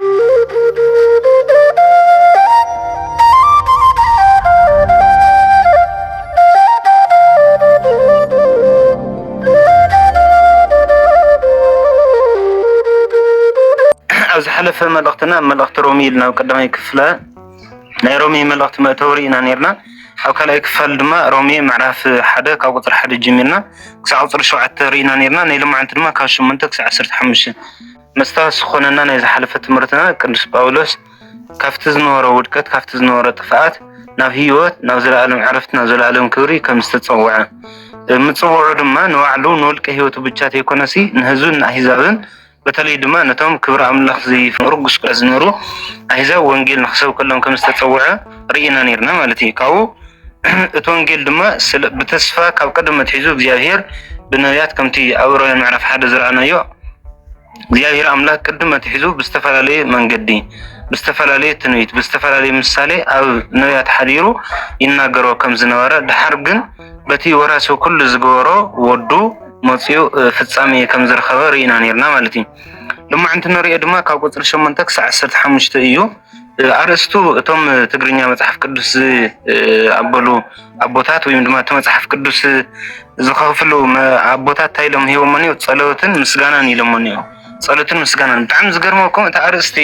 ኣብ ዝሓለፈ መልእኽትና ኣብ መልእኽቲ ሮሚ ኢልና ኣብ ቀዳማይ ክፍለ ናይ ሮሚ መልእኽቲ መእተዊ ርኢና ነርና። ኣብ ካልኣይ ክፋል ድማ ሮሚ ምዕራፍ ሓደ ካብ ቁፅሪ ሓደ ጀሚርና ክሳብ ቁፅሪ ሸውዓተ ርኢና ነርና። ናይ ሎማዓንቲ ድማ ካብ ሸሞንተ ክሳብ ዓሰርተ ሓሙሽተ መስታወት ዝኾነና ናይ ዝሓለፈ ትምህርትና ቅዱስ ጳውሎስ ካብቲ ዝነበሮ ውድቀት ካብቲ ዝነበሮ ጥፍኣት ናብ ህይወት ናብ ዘለኣለም ዕረፍቲ ናብ ዘለኣለም ክብሪ ከም ዝተጸውዐ ምጽውዑ ድማ ንባዕሉ ንውልቀ ህይወቱ ብቻ ተይኮነሲ ንህዝብን ንኣህዛብን በተለይ ድማ ነቶም ክብሪ ኣምላኽ ዘይፍቅሩ ጉስቁለ ዝነሩ ኣህዛብ ወንጌል ንክሰብከሎም ከም ዝተጸውዐ ርኢና ነርና ማለት እዩ ካብኡ እቲ ወንጌል ድማ ስለ ብተስፋ ካብ ቀደም ኣትሒዙ እግዚኣብሄር ብነብያት ከምቲ ኣብ ዕብራውያን ምዕራፍ ሓደ ዝረኣናዮ እግዚኣብሄር ኣምላኽ ቅድም ኣትሒዙ ብዝተፈላለየ መንገዲ ብዝተፈላለየ ትንቢት ብዝተፈላለየ ምሳሌ ኣብ ነብያት ሓዲሩ ይናገሮ ከም ዝነበረ ድሓር ግን በቲ ወራሲ ኩሉ ዝገበሮ ወዱ መፅኡ ፍጻሜ ከም ዝረኸበ ርኢና ነርና ማለት እዩ። ልማዕንቲ ንሪኦ ድማ ካብ ቁፅሪ ሸሞንተ ክሳዕ ዓሰርተ ሓሙሽተ እዩ። ኣርእስቱ እቶም ትግርኛ መፅሓፍ ቅዱስ ዝኣበሉ ኣቦታት ወይም ድማ እቲ መፅሓፍ ቅዱስ ዝኸፍሉ ኣቦታት እንታይ ኢሎም ሂቦሞ እኒኦ ፀሎትን ምስጋናን ኢሎሞ እኒኦ ፀሎትን ምስጋናን ብጣዕሚ ዝገርመኩም እቲ ኣርእስቲ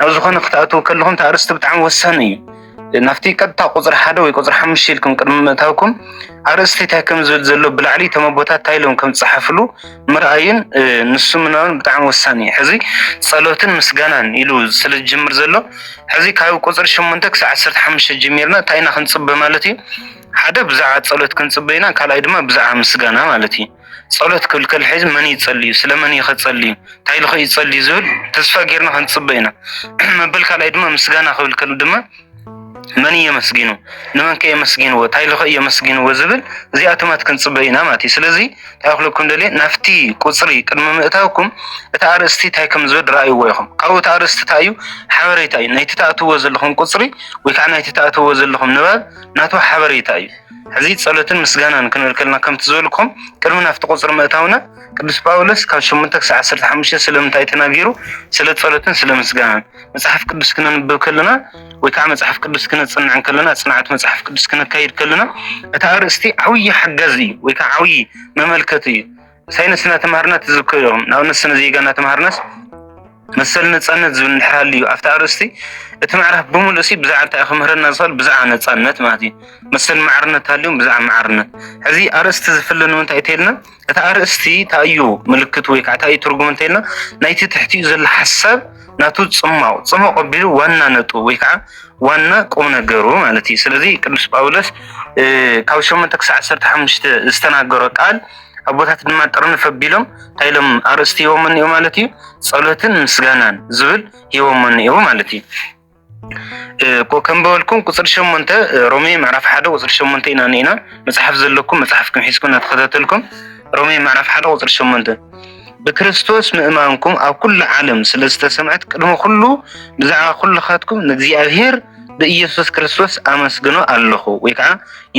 ኣብ ዝኾነ ክትኣትዉ ከለኹም እቲ ኣርእስቲ ብጣዕሚ ወሳኒ እዩ ናብቲ ቀጥታ ቁፅሪ ሓደ ወይ ቁፅሪ ሓሙሽተ ኢልኩም ቅድሚ ምእታውኩም ኣርእስቲ እንታይ ከም ዝብል ዘሎ ብላዕሊ እቶም ኣቦታት እንታይ ኢሎም ከም ዝፀሓፍሉ ምርኣይን ንሱ ምንባብን ብጣዕሚ ወሳኒ እዩ። ሕዚ ጸሎትን ምስጋናን ኢሉ ስለ ዝጅምር ዘሎ ሕዚ ካብ ቁጽሪ ሸሞንተ ክሳዕ ዓሰርተ ሓሙሽተ ጀሚርና እንታይ ኢና ክንጽበ ማለት እዩ? ሓደ ብዛዕባ ጸሎት ክንጽበ ኢና፣ ካልኣይ ድማ ብዛዕባ ምስጋና ማለት እዩ። ጸሎት ክብል ከሎ ሕዚ መን እዩ ዝጸልዩ፣ ስለመን እዩ ከጸልዩ፣ እንታይ ኢሉ ከ እዩ ዝጸልዩ ዝብል ተስፋ ጌርና ክንጽበ ኢና። መበል ካልኣይ ድማ ምስጋና ክብል ከሎ ድማ መን እዩ የመስጊኑ ንመን ከየመስጊንዎ እንታይ ኢሉ እዩ የመስጊንዎ ዝብል እዚኣ ትማት ክንፅበ ኢና ማለት እዩ ስለዚ እንታይ ክብለኩም ደልየ ናብቲ ቁፅሪ ቅድሚ ምእታውኩም እቲ ኣርእስቲ እንታይ ከም ዝብል ረኣይዎ ኢኹም ካብኡ እቲ ኣርእስቲ እንታይ እዩ ሓበሬታ እዩ ናይቲ ተኣትዎ ዘለኹም ቁፅሪ ወይ ከዓ ናይቲ ተኣትዎ ዘለኹም ንባብ ናቱ ሓበሬታ እዩ ሕዚ ጸሎትን ምስጋናን ክንብል ከለና ከምቲ ዝበልኩም ቅድሚ ናብቲ ቁፅሪ ምእታውና ቅዱስ ጳውሎስ ካብ ሸሞንተ ክሳብ ዓሰርተ ሓሙሽተ ስለምንታይ ተናጊሩ ስለ ጸሎትን ስለ ምስጋናን መጽሓፍ ቅዱስ ክነንብብ ከለና ወይ ከዓ መጽሓፍ ቅዱስ ክነጽንዕ ከለና ጽንዓት መጽሓፍ ቅዱስ ክነካይድ ከለና እቲ ኣርእስቲ ዓብዪ ሓጋዚ እዩ ወይ ከዓ ዓብዪ መመልከቲ እዩ። ሳይንስ እናተምሃርና ትዝከ እዮም ንኣብነት ስነ ዜጋ እናተምሃርናስ መሰል ነፃነት ዝብል እንድሕር ሃልዩ ኣብቲ ኣርእስቲ እቲ ምዕራፍ ብምሉእ ሲ ብዛዕባ እንታይ ክምህረና ዝኽእል ብዛዕባ ነፃነት ማለት እዩ መሰል ማዕርነት ሃልዮም ብዛዕባ ማዕርነት ሕዚ ኣርእስቲ ዝፍለ ንምንታይ ተይልና እቲ ኣርእስቲ እንታይ እዩ ምልክት ወይ ከዓ እንታይ እዩ ትርጉም እንተይልና ናይቲ ትሕቲኡ ዘሎ ሓሳብ ናቱ ፅማው ፅሙቕ ኣቢሉ ዋና ነጡ ወይ ከዓ ዋና ቁም ነገሩ ማለት እዩ። ስለዚ ቅዱስ ጳውሎስ ካብ ሸሞንተ ክሳዕ ዓሰርተ ሓሙሽተ ዝተናገሮ ቃል ኣቦታት ድማ ጥርንፍ ኣቢሎም እንታይ ኢሎም ኣርእስቲ ሂቦሞ እኒኦ ማለት እዩ። ጸሎትን ምስጋናን ዝብል ሂቦሞ እኒኦ ማለት እዩ። ከም በበልኩም ቁፅሪ ሸሞንተ ሮሜ ምዕራፍ ሓደ ቁፅሪ ሸሞንተ ኢና ኒና መፅሓፍ ዘለኩም መፅሓፍኩም ሒዝኩም እናተኸታተልኩም ሮሜ ምዕራፍ ሓደ ቁፅሪ ሸሞንተ ብክርስቶስ ምእማንኩም ኣብ ኩሉ ዓለም ስለ ዝተሰምዐት ቅድሚ ኩሉ ብዛዕባ ኩልኻትኩም ንእግዚኣብሄር ብኢየሱስ ክርስቶስ ኣመስግኖ ኣለኹ ወይ ከዓ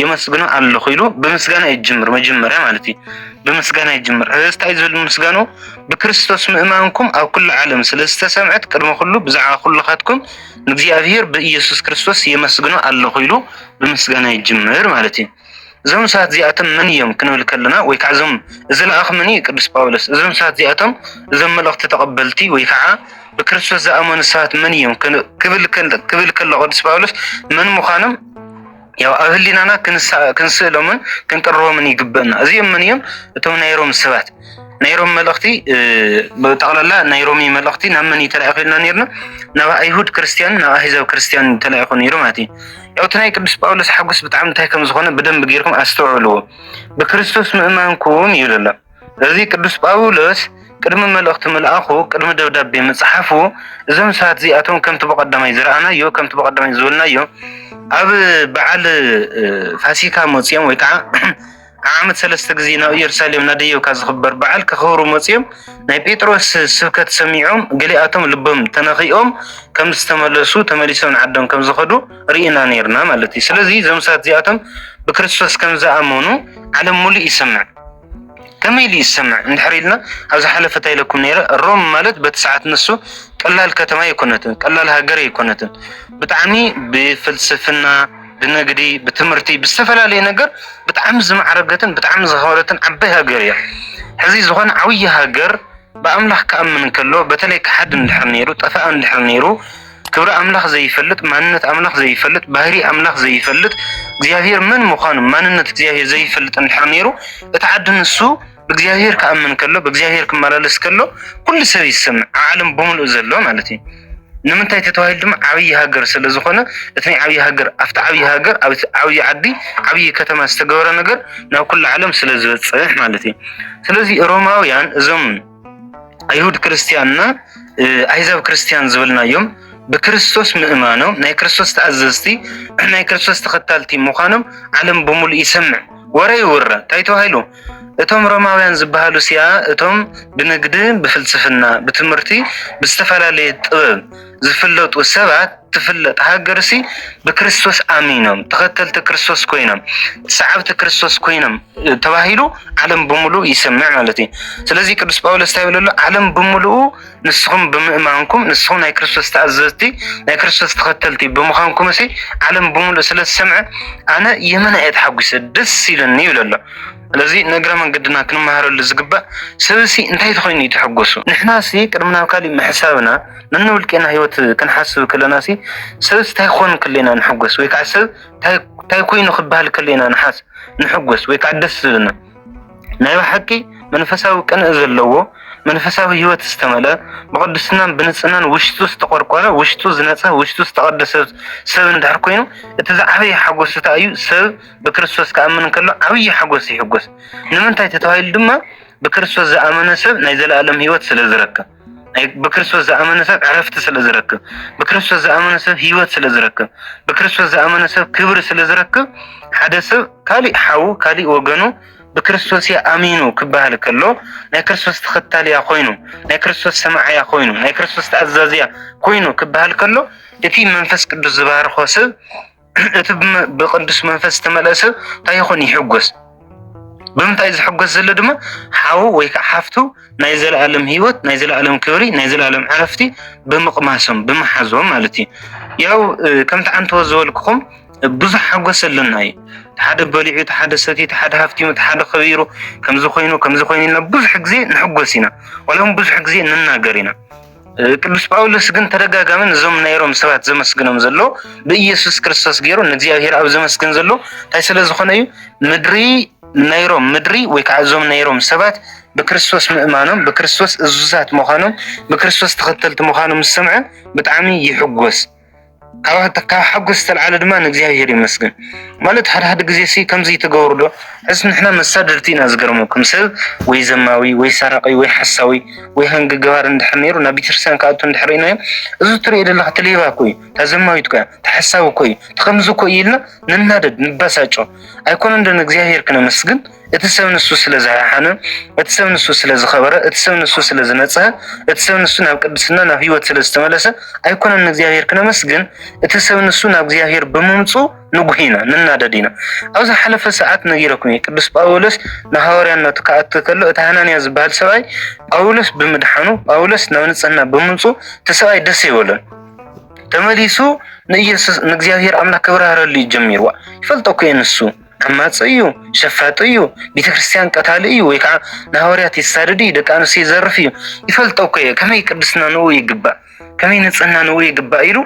የመስግኖ ኣለኹ ኢሉ ብምስጋና ይጅምር መጀመርያ ማለት እዩ ብምስጋና ይጅምር እዚ እንታይ ዝብል ምስጋኖ ብክርስቶስ ምእማንኩም ኣብ ኩሉ ዓለም ስለ ዝተሰምዐት ቅድሚ ኩሉ ብዛዕባ ኩልኻትኩም ንእግዚኣብሔር ብኢየሱስ ክርስቶስ የመስግኖ ኣለኹ ኢሉ ብምስጋና ይጅምር ማለት እዩ። እዞም ሰባት እዚኣቶም መን እዮም ክንብል ከለና ወይ ከዓ እዞም እዚ ለኣኽ መን እዩ ቅዱስ ጳውሎስ እዞም ሰባት እዚኣቶም እዞም መልእኽቲ ተቐበልቲ ወይ ከዓ ብክርስቶስ ዝኣመኑ ሰባት መን እዮም ክብል ከሎ ቅዱስ ጳውሎስ መን ምዃኖም ያው ኣብ ህሊናና ክንስእሎምን ክንቅርቦምን ይግበና። እዚኦም ምን እዮም? እቶም ናይ ሮም ሰባት ናይ ሮም መልእኽቲ ብጠቕላላ ናይ ሮሚ መልእኽቲ ናብ መን ተላኢኹ ኢልና ነርና? ናብ ኣይሁድ ክርስትያን ናብ ኣህዛብ ክርስትያን ተላኢኹ ነይሩ ማለት እዩ። ያው እቲ ናይ ቅዱስ ጳውሎስ ሓጎስ ብጣዕሚ እንታይ ከም ዝኾነ ብደንብ ጌርኩም ኣስተውዕልዎ። ብክርስቶስ ምእማንኩም ይብል ኣሎ እዚ ቅዱስ ጳውሎስ ቅድሚ መልእኽቲ ምልኣኹ ቅድሚ ደብዳቤ ምጽሓፉ እዞም ሰባት እዚኣቶም ከምቲ ብቐዳማይ ዝረኣናዮ ከምቲ ብቐዳማይ ዝበልናዮ ኣብ በዓል ፋሲካ መፅኦም ወይ ከዓ ዓመት ሰለስተ ግዜ ናብ ኢየሩሳሌም ናደየብካ ዝኽበር በዓል ከኽብሩ መፅኦም ናይ ጴጥሮስ ስብከት ሰሚዖም ገሊኣቶም ልቦም ተነኺኦም ከም ዝተመለሱ ተመሊሶም ንዓዶም ከም ዝኸዱ ርኢና ነርና ማለት እዩ። ስለዚ እዞም ሰባት እዚኣቶም ብክርስቶስ ከም ዝኣመኑ ዓለም ሙሉእ ይሰምዕ። ከመይ ኢሉ ይሰምዕ እንድሕር ኢልና ኣብ ዝሓለፈ እንታይ ኢለኩም ነይረ ሮም ማለት በቲ ሰዓት ንሱ ቀላል ከተማ ኣይኮነትን ቀላል ሃገር ኣይኮነትን ብጣዕሚ ብፍልስፍና ብንግዲ ብትምህርቲ ብዝተፈላለየ ነገር ብጣዕሚ ዝማዕረገትን ብጣዕሚ ዝኸበረትን ዓባይ ሃገር እያ ሕዚ ዝኾነ ዓብዪ ሃገር ብኣምላኽ ክኣምን ከሎ በተለይ ክሓድን ድሕር ነይሩ ጠፋእን ድሕር ነይሩ ክብሪ ኣምላኽ ዘይፈልጥ ማንነት ኣምላኽ ዘይፈልጥ ባህሪ ኣምላኽ ዘይፈልጥ እግዚኣብሔር መን ምዃኑ ማንነት እግዚኣብሔር ዘይፈልጥ እንድሕር ነይሩ እቲ ዓዲ ንሱ ብእግዚኣብሔር ክኣምን ከሎ ብእግዚኣብሔር ክመላለስ ከሎ ኩሉ ሰብ ይሰምዕ ዓለም ብምሉእ ዘሎ ማለት እዩ ንምንታይ ተተባሂሉ ድማ ዓብዪ ሃገር ስለ ዝኾነ እቲ ናይ ዓብዪ ሃገር ኣብቲ ዓብዪ ሃገር ኣብ ዓብዪ ዓዲ ዓብዪ ከተማ ዝተገበረ ነገር ናብ ኩሉ ዓለም ስለ ዝበፅሕ ማለት እዩ ስለዚ ሮማውያን እዞም ኣይሁድ ክርስትያንና ኣይዛብ ክርስትያን ዝብልናዮም ብክርስቶስ ምእማኖም ናይ ክርስቶስ ተኣዘዝቲ ናይ ክርስቶስ ተኸታልቲ ምዃኖም ዓለም ብምሉእ ይሰምዕ ወረ ይውረ እንታይ ተባሂሉ እቶም ሮማውያን ዝበሃሉ ሲያ እቶም ብንግዲ ብፍልስፍና ብትምህርቲ ብዝተፈላለየ ጥበብ ዝፍለጡ ሰባት ትፍለጥ ሃገር ሲ ብክርስቶስ ኣሚኖም ተኸተልቲ ክርስቶስ ኮይኖም ሰዓብቲ ክርስቶስ ኮይኖም ተባሂሉ ዓለም ብምሉእ ይሰምዕ ማለት እዩ። ስለዚ ቅዱስ ጳውሎስ እንታይ ብለሎ ዓለም ብምሉኡ ንስኹም ብምእማንኩም ንስኹም ናይ ክርስቶስ ተኣዘዝቲ ናይ ክርስቶስ ተኸተልቲ ብምዃንኩም ሲ ዓለም ብምሉእ ስለ ዝሰምዐ ኣነ የመና እየ ተሓጒሰ ደስ ኢሉኒ ይብለሎ። ስለዚ ንእግረ መንገድና ክንመሃረሉ ዝግባእ ሰብሲ እንታይ ተኮይኑ እዩ ተሐጎሱ ንሕናሲ ቅድሚ ናብ ካሊእ ምሕሳብና ነንውልቄና ሂወት ክንሓስብ ከለናሲ ሰብሲ እንታይ ክኾን ከለና ንሕጎስ ወይ ከዓ ሰብ እንታይ ኮይኑ ክበሃል ከለና ንሓስ ንሕጎስ ወይ ከዓ ደስ ዝብልና ናይ ብሓቂ መንፈሳዊ ቅንኢ ዘለዎ መንፈሳዊ ሂወት ዝተመልአ ብቅድስናን ብንፅህናን ውሽጡ ዝተቆርቆረ ውሽጡ ዝነፀ ውሽጡ ዝተቀደሰ ሰብ እንድሕር ኮይኑ እቲ ዝዓበየ ሓጎስታ እዩ ሰብ ብክርስቶስ ክኣምን እንከሎ ዓብዪ ሓጎስ ይሕጎስ። ንምንታይ ተተባሂሉ ድማ ብክርስቶስ ዝኣመነ ሰብ ናይ ዘለኣለም ህይወት ስለ ዝረክብ፣ ብክርስቶስ ዝኣመነ ሰብ ዕረፍቲ ስለ ዝረክብ፣ ብክርስቶስ ዝኣመነ ሰብ ህይወት ስለ ዝረክብ፣ ብክርስቶስ ዝኣመነ ሰብ ክብሪ ስለ ዝረክብ፣ ሓደ ሰብ ካሊእ ሓዉ ካሊእ ወገኑ ብክርስቶስ እያ ኣሚኑ ክበሃል ከሎ ናይ ክርስቶስ ተኸታሊ እያ ኮይኑ፣ ናይ ክርስቶስ ሰማዕ እያ ኮይኑ፣ ናይ ክርስቶስ ተኣዛዚ እያ ኮይኑ ክበሃል ከሎ እቲ መንፈስ ቅዱስ ዝባርኾ ሰብ እቲ ብቅዱስ መንፈስ ዝተመልአ ሰብ እንታይ ይኹን ይሕጎስ። ብምንታይ ዝሕጎስ ዘሎ ድማ ሓው ወይ ከዓ ሓፍቱ ናይ ዘለኣለም ህይወት፣ ናይ ዘለኣለም ክብሪ፣ ናይ ዘለኣለም ዕረፍቲ ብምቕማሶም ብምሓዞም ማለት እዩ። ያው ከምቲ ዓንተወ ዝበልኩኹም ብዙሕ ሓጎስ ኣለና እዩ። ሓደ በሊዑ፣ እቲ ሓደ ሰትዩ፣ እቲ ሓደ ሃፍቲሙ፣ እቲ ሓደ ከቢሩ፣ ከምዚ ኮይኑ ከምዚ ኮይኑ ኢልና ብዙሕ ግዜ ንሕጎስ ኢና። ዋላ እውን ብዙሕ ግዜ ንናገር ኢና። ቅዱስ ጳውሎስ ግን ተደጋጋሚ ነዞም ናይ ሮም ሰባት ዘመስግኖም ዘሎ ብኢየሱስ ክርስቶስ ገይሩ ንእግዚኣብሔር ኣብ ዘመስግን ዘሎ እንታይ ስለ ዝኾነ እዩ ምድሪ ናይ ሮም ምድሪ ወይ ከዓ እዞም ናይ ሮም ሰባት ብክርስቶስ ምእማኖም ብክርስቶስ እዙዛት ምዃኖም ብክርስቶስ ተኸተልቲ ምዃኖም ዝሰምዐ ብጣዕሚ ይሕጎስ ካብ ሓጎስ ዝተልዓለ ድማ ንእግዚኣብሔር ይመስገን ማለት ሓደ ሓደ ግዜ ሲ ከምዚ ትገብሩ ዶ ሕዚ ንሕና መሳድርቲ ኢና ዝገርመኩም ሰብ ወይ ዘማዊ ወይ ሰራቂ ወይ ሓሳዊ ወይ ሃንጊ ገባር እንድሕር ነይሩ ናብ ቤተክርስትያን ክኣቱ እንድሕር ኢናዮ እዚ ትሪኦ ዘለካ እቲ ሌባ እኮ እዩ እታ ዘማዊት እኮ እያ እቲ ሓሳዊ እኮ እዩ እቲ ከምዚ እኮ እዩ ኢልና ንናደድ ንበሳጮ ኣይኮነን ዶ ንእግዚኣብሔር ክነመስግን እቲ ሰብ ንሱ ስለ ዝሓሓነ፣ እቲ ሰብ ንሱ ስለ ዝኸበረ፣ እቲ ሰብ ንሱ ስለ ዝነጽሀ፣ እቲ ሰብ ንሱ ናብ ቅድስና ናብ ህይወት ስለ ዝተመለሰ ኣይኮነን ንእግዚኣብሔር ክነመስግን። እቲ ሰብ ንሱ ናብ እግዚኣብሔር ብምምፁ ንጉህ ኢና ንናደድ ኢና። ኣብ ዝሓለፈ ሰዓት ነጊረኩም እየ። ቅዱስ ጳውሎስ ንሃዋርያነቱ ክኣቱ ከሎ እቲ ሃናንያ ዝበሃል ሰብኣይ ጳውሎስ ብምድሓኑ ጳውሎስ ናብ ንጽህና ብምምፁ እቲ ሰብኣይ ደስ ይበሎን ተመሊሱ ንኢየሱስ ንእግዚኣብሔር ኣምላክ ክብራህረሉ ጀሚርዋ ይፈልጦ እኮ ንሱ ዓማጺ እዩ፣ ሸፋጢ እዩ፣ ቤተክርስትያን ቀታሊ እዩ፣ ወይ ከዓ ንሃዋርያት የሳድድ እዩ፣ ደቂ ኣንስትዮ ይዘርፍ እዩ፣ ይፈልጦ እኮ እየ፣ ከመይ ቅድስና ንኡ ይግባእ፣ ከመይ ንጽህና ንኡ ይግባእ ኢሉ